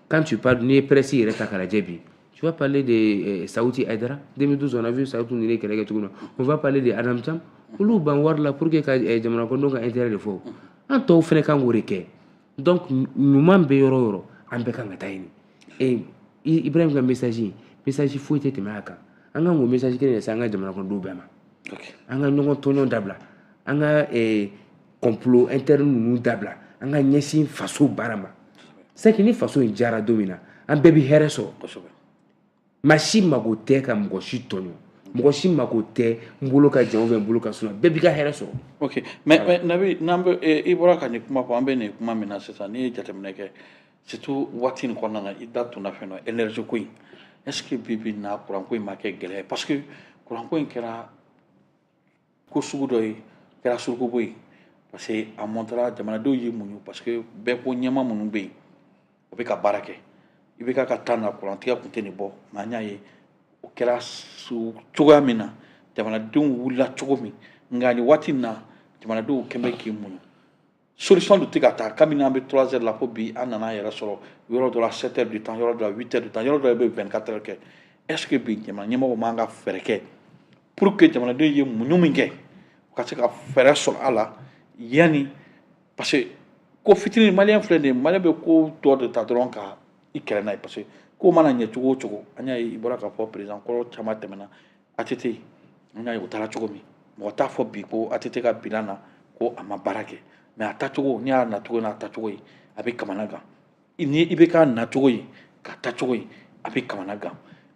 quand tu parles n'i ye presse yɛrɛ ta k'a lajɛ bi tu vas parler de euh, Saouti Haïdara 2012 on a vu Saouti ninnu ye kɛlɛ kɛ cogo min na on va parler de Adam Thiam olu banna wari la pour que ka euh, jamana kɔnɔdenw ka intérêt de fɔ an tɔw fɛnɛ kan k'o de kɛ donc ɲuman bɛ yɔrɔ yɔrɔ an bɛɛ kan ka taa yen ee ibrahim ka message message foyi tɛ tɛmɛ a kan an kan k'o message kelen de se an ka jamanakɔnɔdenw bɛɛ ma an ka ɲɔgɔn tɔɲɔn dabila an ka complot interne ninnu dabila an ka ɲɛsin faso baara ma c'est que ni faso in diyara don min na an bɛɛ bɛ hɛrɛ sɔrɔ maa si mago tɛ ka mɔgɔ si tɔɲɔ mɔgɔ si mago tɛ n bolo ka jan ou bien n bolo ka surun bɛɛ b'i ka hɛrɛ sɔrɔ ok mais mais nabi n'an bɛ eh, i bɔra ka nin kuma fɔ an bɛ nin kuma min na sisan n'i ye jateminɛ kɛ surtout waati nin kɔnɔna na i da tun na fɛn dɔ énergie ko in est ce que bi bi in na kuran ko in ma kɛ gɛlɛya parce que kuran ko in kɛra ko sugu dɔ ye kɛra surukubo ye parce que a mɔntara jamanadenw y'i muɲu parce que bɛɛ ko ɲɛmaa minnu bɛ yen o bɛ ka baara kɛ i bɛ ka ka taa na kurantigɛ kun tɛ nin bɔ nka an y'a ye o kɛra cogoya min na jamanadenw wulila cogo min nka nin waati in na jamanadenw kɔni bɛ k'i muɲu solution dun tɛ ka taa kabini an bɛ trois heures la fo bi an nana yɛrɛ sɔrɔ yɔrɔ dɔ la sept heures du temps yɔrɔ dɔ la huit heures du temps yɔrɔ dɔ la bɛ vingt quatre heures kɛ est ce que bi jamana ɲɛmɔgɔ man ka fɛɛrɛ kɛ pour que jamanadenw ye muɲu min kɛ u ka se ka fɛɛrɛ sɔrɔ a la yanni parce que ko fitinin maliyɛn filɛ nin ye maliyɛn bɛ ko dɔ de ta dɔrɔn ka i kɛlɛ n'a ye parce que ko mana ɲɛ cogo o cogo an y'a ye i bɔra k'a fɔ président kɔrɔ caman tɛmɛna ATT an y'a ye o taara cogo min mɔgɔ t'a fɔ bi ko ATT ka bilan na ko a ma baara kɛ mais a tacogo n'i y'a nacogo n'a tacogo ye a bɛ kamana gan ni i bɛ k'a nacogo ye k'a tacogo ye a bɛ kamana gan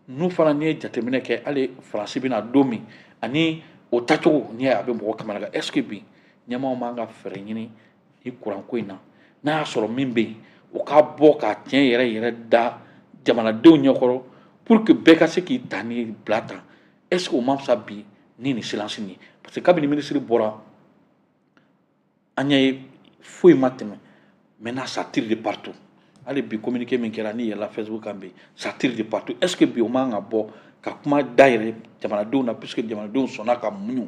ninnu fana n'i ye jateminɛ kɛ hali faransi bɛna don min ani o tacogo n'i y'a ye a bɛ mɔgɔ kamana gan est ce que bi ɲɛmaaw man ka fɛɛrɛ ɲini nin kuranko in na n'a y'a sɔrɔ min bɛ yen o ka bɔ ka tiɲɛ yɛrɛ yɛrɛ da jamanadenw ɲɛkɔrɔ pour que bɛɛ ka se k'i ta ni bila ta est ce que o ma fisa bi ni nin silence nin ye parce que kabini minisiri bɔra an y'a ye foyi ma tɛmɛ maintenant ça tire de partout hali bi communiqué min kɛra n'i yɛlɛla facebook kan bi ça tire de partout est ce que bi o man ka bɔ ka kuma dayɛlɛ jamanadenw na puisque jamanadenw sɔnna ka muɲu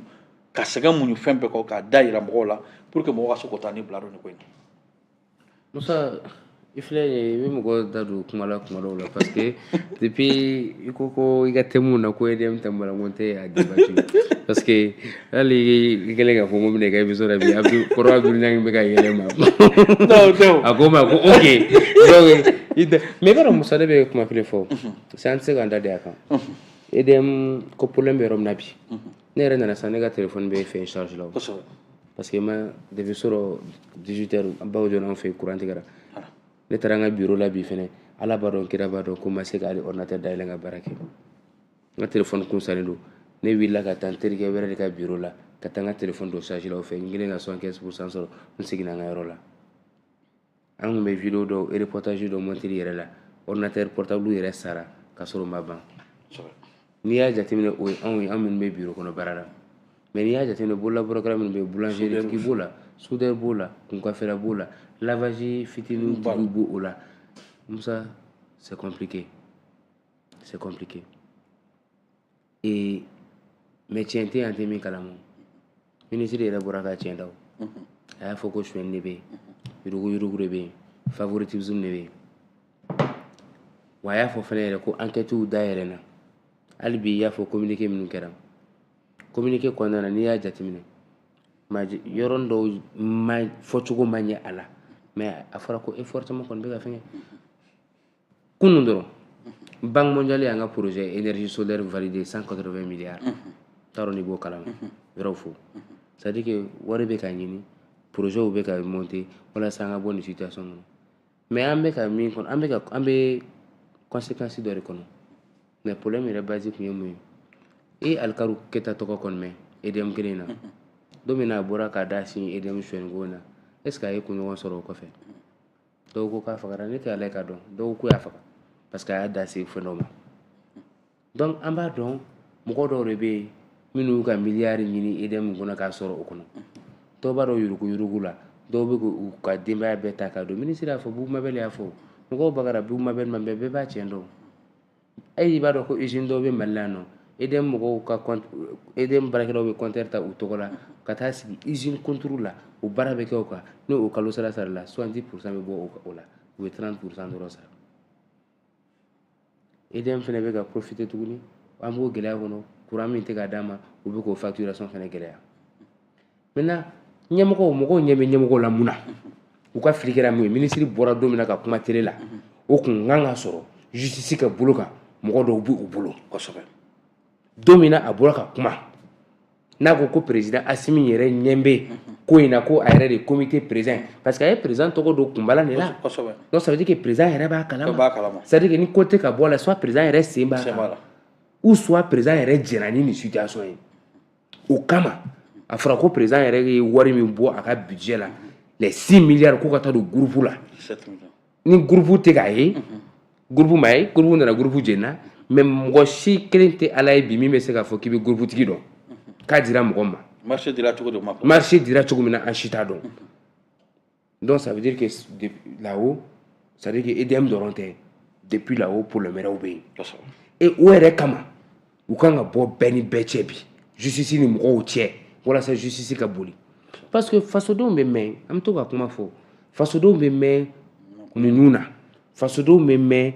ka sɛgɛn muɲu fɛn bɛɛ kɔ k'a da yira mɔgɔw la pour que mɔgɔ ka se k'o ta ni bila dɔn nin ko in na musa i filɛ ye i bɛ mɔgɔ da don kuma la kuma dɔw la parce que depuis i ko ko i ka thème na ko edm thème la n ko n tɛ a debati parce que hali i kɛlen k'a fɔ n ko n bɛna i ka émission la bi abdu kɔrɔ abdu ɲangi bɛ ka yɛlɛ ma a ko n ma ko ok donc mais i b'a dɔn musa ne bɛ kuma kelen fɔ sisan an tɛ se k'an da de a kan edm ko problème bɛ yɔrɔ min na bi ne yɛrɛ nana sisan ne ka telefɔni bɛ fɛn charge la o kosɛbɛ parce que ma depuis surɔ 18 heures baw jɔra an fɛ courant tigɛra ne taara n ka bureau la bi fɛnɛ ala b'a dɔn kira b'a dɔn ko n ma se ka hali ordinateur dayɛlɛ n ka baara kɛ n ka telefɔni kun salen don ne wulila ka taa n terikɛ wɛrɛ de ka bureau la ka taa n ka telefɔni don charge la o fɛ n kɛlen ka 75 pourcent sɔrɔ n seginna n ka yɔrɔ la an tun bɛ video dɔw reportage dɔ monteli yɛrɛ la ordinateur portable yɛrɛ sara ka sɔrɔ o ma ban n'i y'a jateminɛ o ye anw ye an minnu bɛ biro kɔnɔ baara la mais n'i y'a jateminɛ bololabaarakɛla minnu bɛ yen boulangerie tigi b'o la soudeur b'o la kunkafɛla b'o la lavage fitinin tigiw b'o la musa c'est compliqué c'est compliqué ee mais tiɲɛ tɛ yen an tɛ min kalama minisiri yɛrɛ bɔra ka tiɲɛ da a y'a fɔ ko suɲɛni de bɛ yen yurugu yurugu de bɛ yen favoritisme de bɛ yen wa a y'a fɔ fana yɛrɛ ko ankɛtiw dayɛlɛnna hali bi i y'a fɔ kominike minnu kɛra kominike kɔnɔna na n'i y'a jateminɛ yɔrɔnin dɔw fɔcogo ma ɲɛ a la mais a fɔra ko effort caman kɔni bɛ ka fɛngɛ kunun dɔrɔn banque mondiale y'an ka projet énergie solaire validé 180 milliards n t'a dɔn n'i b'o kalama yɔrɔw fo c'est à dire que wari bɛ ka ɲini projetw bɛ ka monter walasa an ka bɔ nin situation kɔnɔ mais an bɛ ka min kɔnɔ an bɛ ka an bɛ conséquence dɔ de kɔnɔ mais problème yɛrɛ base tun ye mun ye i alikaru keta tɔgɔ kɔni mɛn edm kelen na don min na a bɔra k'a da sin edm suɲɛniko na est ce que a ye kunɲɔgɔn sɔrɔ o kɔfɛ dɔw ko k'a fagara ne tɛ ala ye k'a dɔn dɔw ko u y'a faga parce que a y'a da se fɛn dɔ ma donc an b'a dɔn mɔgɔ dɔw de bɛ yen minnu y'u ka miliyari ɲini edm kɔnɔ k'a sɔrɔ o kɔnɔ dɔw bɛ don yuruguyurugu la dɔw bɛ k'u ka denbaya bɛɛ ta k'a don minisiri y'a fɔ bubu mabɛli y'a fɔ mɔgɔw bagara bubu mabɛli ma bɛɛ bɛɛ b'a tiɲɛ dɔn ayi i b'a dɔn ko usine dɔw bɛ mali la yan n'o edm mɔgɔw ka edm baarakɛlaw bɛ kɔntɛri ta u tɔgɔ la ka taa sigi usine konturu la o baara bɛ kɛ o kan n'o kalo sara sarala soixante pourcent bɛ bɔ o la u bɛ trente pourcent dɔrɔn sara edm fana bɛ ka profiter tuguni an b'o gɛlɛya kɔnɔ kuran min tɛ ka d'an ma u bɛ k'o facturation fana gɛlɛya maintenant ɲɛmɔgɔw mɔgɔw ɲɛ bɛ ɲɛmɔgɔw la mun na u ka fili kɛra mun ye minisiri bɔra don min na ka kuma tele la o kun ka kan ka sɔrɔ justice ka bolo kan mɔgɔ dɔw b'u bolo kosɛbɛ don min na a bɔra ka kuma n'a ko ko président asimi yɛrɛ ɲɛ bɛ ko in na ko a yɛrɛ de comité président parce que a ye président tɔgɔ don kunbala de la kosɛbɛ donc ça veut dire que président yɛrɛ b'a kalama b'a kalama c'est à dire que ni ko tɛ ka bɔ a la soit président yɛrɛ sen b'a kan ou soit président yɛrɛ jɛnna ni nin situation ye o kama a fɔra ko président yɛrɛ ye wari min bɔ a ka budget la les 6 milliards ko ka taa don groupe la ni groupe tɛ k'a ye groupe ma ye groupe nana groupe jenna mais mɔgɔ si kelen tɛ ala ye bi min bɛ se k'a fɔ k'i bɛ groupe tigi dɔn k'a dira mɔgɔ ma marché dira cogo min na an si t'a dɔn Donc ça veut dire que là-haut, ça veut dire que EDM dɔrɔn tɛ depuis là-haut problème wɛrɛw bɛ yen. Kosɛbɛ. Et o yɛrɛ kama u kan ka bɔ bɛɛ ni bɛɛ cɛ bi justice ni mɔgɔw cɛ walasa justice ka boli parce que fasodenw bɛ mɛn an bɛ to ka kuma fɔ fasodenw bɛ mɛn muɲu na fasodenw bɛ mɛn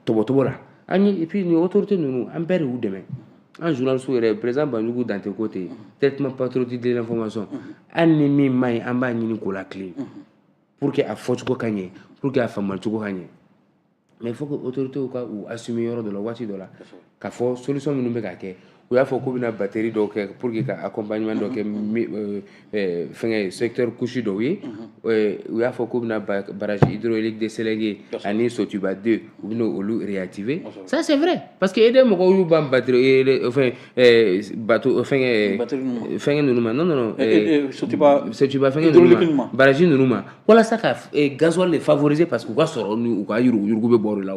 tɔmɔcogo la an ye ipi nin otote ninnu an bɛɛ de y'u dɛmɛ an zso yɛrɛ perez banjugu dante ko ten yen t patoroti denfɔma sɔn an ni min ma ye an b'a ɲini ko la kelen pour que a fɔcogo ka ɲɛ pur que a faamumacogo ka ɲɛ mɛ fo ko otote ka u a simi yɔrɔ dɔ la waati dɔ la K'a fɔ solution minnu bɛ ka kɛ u y'a fɔ k'u bɛna batterie dɔw kɛ pour que ka accompagnement dɔw kɛ fɛn secteur couche dɔw ye u y'a fɔ k'u bɛna barrage hydraulique de Sélingué ani Sotuba 2 u bɛ olu réactiver ça c'est vrai parce que EDM mɔgɔw y'u ban bateau fɛn ninnu ma n Sotuba barrage ninnu ma walasa ka gasoil de favoriser parce que u ka sɔrɔ u ka yuruguyurugu bɛ bɔ o la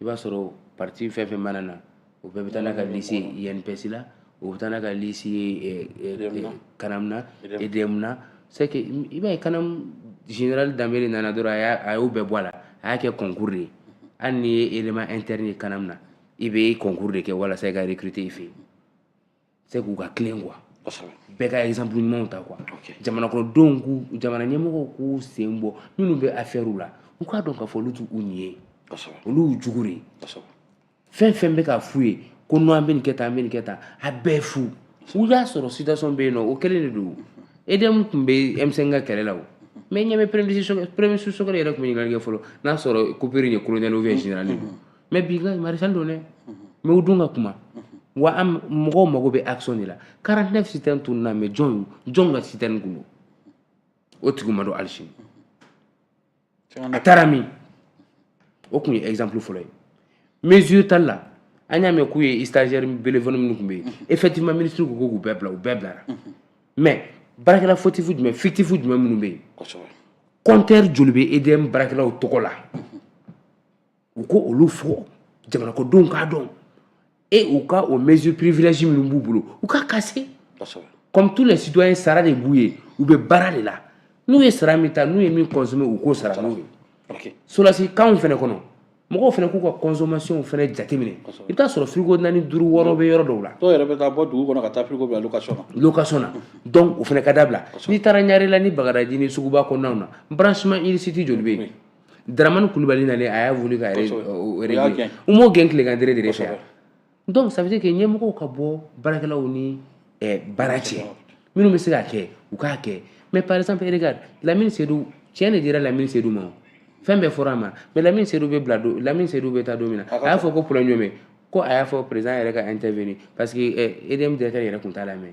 i b'a sɔrɔ parti fɛn fɛn mana na o bɛɛ bɛ taa n'a ka liste INPS la o bɛ taa n'a ka liste CANAM na EDM na c'est que i b'a ye CANAM général Danbele nana dɔrɔn a y'a a y'o bɛɛ bɔ a la a y'a kɛ concours de ye hali n'i ye élément interne ye CANAM na i bɛ concours de kɛ walasa i ka recruter i fɛ yen c'est k'u ka tilen quoi bɛɛ ka exemple ɲumanw ta quoi jamanakɔnɔdenw k'u jamana ɲɛmɔgɔw k'u sen bɔ minnu bɛ affaires la u k'a dɔn k'a fɔ olu t'u ɲin ye olu y'u jugu de ye fɛn fɛn bɛ k'a f'u ye ko n'an bɛ nin kɛ tan an bɛ nin kɛ tan a bɛɛ fu u y'a sɔrɔ situation bɛ yen nɔ o kɛlen de don edm tun bɛ m5 ka kɛlɛ la o mɛ ɲɛ bɛ premier Choguel yɛrɛ tun bɛ ɲininkali kɛ fɔlɔ n'a sɔrɔ coupure ye colonel ou bien général don mais bi ka maréchal don dɛ mais u dun ka kuma wa an mɔgɔw mago bɛ action de la 49 citernes tununna mais jɔn jɔn ka citerne kun don o tigi ma dɔn hali sini a taara min o tun ye exemple fɔlɔ ye mesure tali la an y'a mɛn k'u ye stagiaire bénévole minnu tun bɛ yen effectivement ministre ko k'u bɛɛ bila u bɛɛ bilara mais baarakɛla fautif jumɛn fictif jumɛn minnu bɛ yen compteur joli bɛ edm baarakɛlaw tɔgɔ la u ko olu fɔ jamana kɔnɔdenw k'a dɔn et u ka o mesure privilège minnu b'u bolo u ka kase comme tous les citoyens sara de b'u ye u bɛ baara de la n'u ye sara min ta n'u ye min consommer u k'o sara n'o ye sɔrɔdasi kanw fana kɔnɔ mɔgɔw fana k'u ka consommation fana jateminɛ i bɛ taa sɔrɔ frigo naani duuru wɔɔrɔ bɛ yɔrɔ dɔw la dɔw yɛrɛ bɛ taa bɔ dugu kɔnɔ ka taa frigo bila location na location na donc o fana ka dabila n'i taara ɲarela ni bagadaji ni suguba kɔnɔnaw na branchement illicite joli bɛ yen Dramani kulubali nalen a y'a voulu ka régler u m'o gɛn tilegan dɛrɛ de fɛ donc ça veut dire que ɲɛmɔgɔw ka bɔ baarakɛlaw ni baara cɛ minnu bɛ se k'a kɛ u k'a kɛ mais par exemple regarde lamini sedu tiɲɛ de dira lamini sedu ma fɛn bɛɛ fɔra a ma mais lamini sedu bɛ bila don lamini sedu bɛ taa don min na a y'a fɔ ko problème jumɛn ko a y'a fɔ président yɛrɛ ka intervenir parce que EDM directeur yɛrɛ tun t'a lamɛn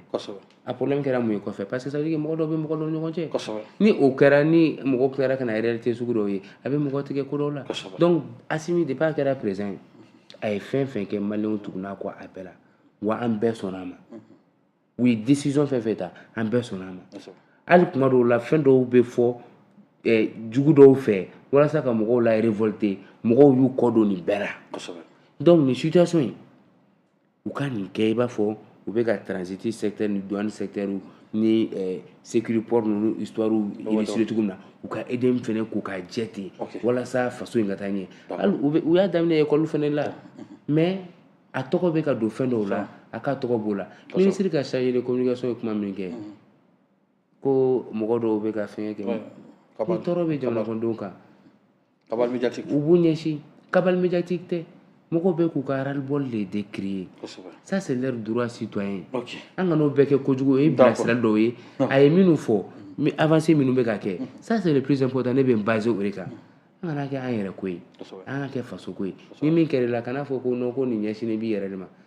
a problème kɛra mun ye kɔfɛ parce que ça veut dire que mɔgɔ dɔw bɛ mɔgɔ dɔw ni ɲɔgɔn cɛ kosɛbɛ ni o kɛra ni mɔgɔ tilara ka na réalité sugu dɔw ye a bɛ mɔgɔ tigɛ ko dɔw la kosɛbɛ donc Asimi depuis a kɛra président ye a ye fɛn fɛn kɛ maliyɛnw tugunn'a kɔ a bɛɛ la wa an bɛɛ sɔnna a ma u ye décision fɛn fɛn ta an bɛɛ sɔnna a ma kosɛbɛ hali kuma dɔw la fɛn dɔw bɛ fɔ eh, jugu dɔw fɛ walasa ka mɔgɔw la révolter mɔgɔw y'u kɔ don nin bɛɛ la kosɛbɛ donc nin situation in u ka nin kɛ i b'a fɔ u bɛ ka transit secteur ni douane secteur ni sécuriport ninnu histoire élucider cogo min na u ka EDM fana k'u ka jɛ ten walasa faso in ka taa ɲɛ u y'a daminɛ école fana la mais a tɔgɔ bɛ ka don fɛn dɔw la a ka tɔgɔ b'o la minisiri ka chargé de communication ye kuma min kɛ ko mɔgɔ dɔw bɛ ka fɛn kɛ ni tɔɔrɔ bɛ jamana kɔnɔdenw kan cabale médiatique u b'u ɲɛsin cabale médiatique tɛ mɔgɔw bɛ k'u ka ras-le-bol de décrier kosɛbɛ ça c'est leur droit citoyen ok an kan'o bɛɛ kɛ kojugu o ye bilasirali dɔw ye a ye minnu fɔ mi- avancé minnu bɛ ka kɛ ça c'est le plus important ne bɛ n baser o de kan an kana kɛ an yɛrɛ ko ye kosɛbɛ an ka kɛ faso ko ye ni min kɛra i la kana fɔ ko non ko nin ɲɛsinnen b'i yɛrɛ de ma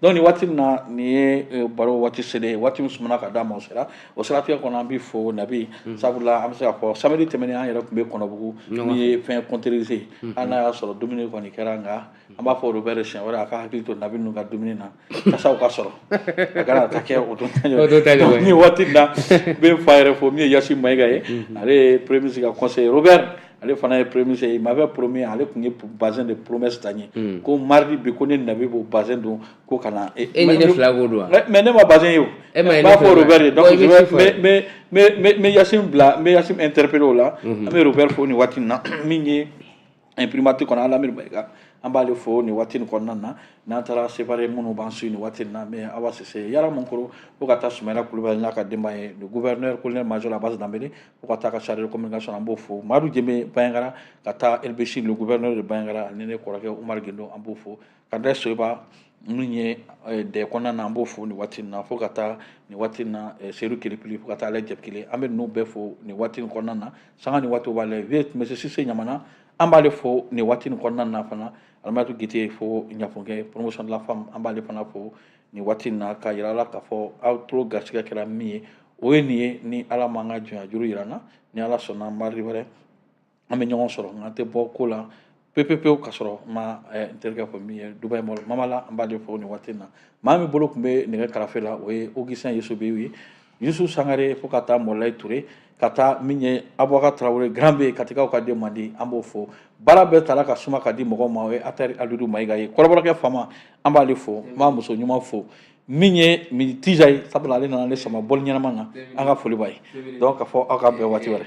donc ni waati min na nin ye e, baro waati selen ye waati min sumana ka d'a ma o sera o siratigɛ kɔnɔ an b'i fo nabi mm. sabula an bɛ se k'a fɔ samedi tɛmɛnen an yɛrɛ tun bɛ kɔnɔbugu min ye fɛn kɔnterize mm-hmm. hali n'a y'a sɔrɔ dumuni kɔni kɛra nka mm. an b'a fɔ robert siɲɛ wɛrɛ a ka hakili to nabi ninnu ka dumuni na kasaw ka sɔrɔ a kana taa kɛ o don ta ɲɔgɔn nin waati na n bɛ n fa yɛrɛ fo min ye yasin mayiga ye mm-hmm. ale ye premier ministre ka conseiller robert ale fana ye premier ministre ye il m'avait promis ale tun ye bazin de promesse ta n ye hmm. ko mardi bi ko ne nabi b'o bazin don ko ka na e ni ne fila k'o don wa mais ne ma bazin ye o n b'a fɔ robert ye donc je vais mais mais mais mais yasin bila n bɛ yasin interpeller o la an bɛ robert fo nin waati in na min ye primature kɔnɔ alamini mayiga an b'ale fo nin waati nin kɔnɔna na n'an taara sevare minnu b'an suivre nin waati nin na mɛ awa sise yara mankoro fo ka taa sumayila kulubali n'a ka denbaya ye le gouverneur colonel major abbas danbele fo ka taa ka chargé de communication an b'o fo madu jeme bayangara ka taa El Béchir le gouverneur de bayangara ni ne kɔrɔkɛ umar gendo an b'o fo kandɛ soyiba min ye eh, dɛ kɔnɔna na an b'o fo nin waati na fo ka taa nin waati na eh, seyidu kelipili fo ka taa ale jɛpikile an bɛ ninnu bɛɛ fo nin waati nin kɔnɔna na sanga ni waati bɛɛ la vieux monsieur sise ɲamana an b'ale fo nin waati nin kɔnɔna na fana alimatu gite fo ɲafunkɛ promotion de la femme an b'ale fana fo nin waati in na k'a yira la k'a fɔ aw tulo garisigɛ kɛra min ye o ye nin ye ni ala m'an ka jɔnyajuru yira an na ni ala sɔnna mardi wɛrɛ an bɛ ɲɔgɔn sɔrɔ nka an tɛ bɔ ko la pepepewu ka sɔrɔ ma eh, n terikɛ fo min ye dubai mɔl mamala an b'ale fo nin waati in na maa min bolo tun bɛ nɛgɛ karafe la o ye augustin yesobew ye Yusuf sangare fo ka taa mɔlayi ture ka taa min ye abubakar tarawele grand B ye katikaw ka denmandi an b'o fo baara bɛɛ taara ka suma ka di mɔgɔ ma o ye atari alidu mayiga ye kɔrɔbɔrɔkɛ fama an b'ale fo n b'a muso ɲuman fo min ye mi tija ye sabula ale nana ale sama bɔli ɲɛnama na an ka foli b'a ye donc k'a fɔ aw k'an bɛn waati wɛrɛ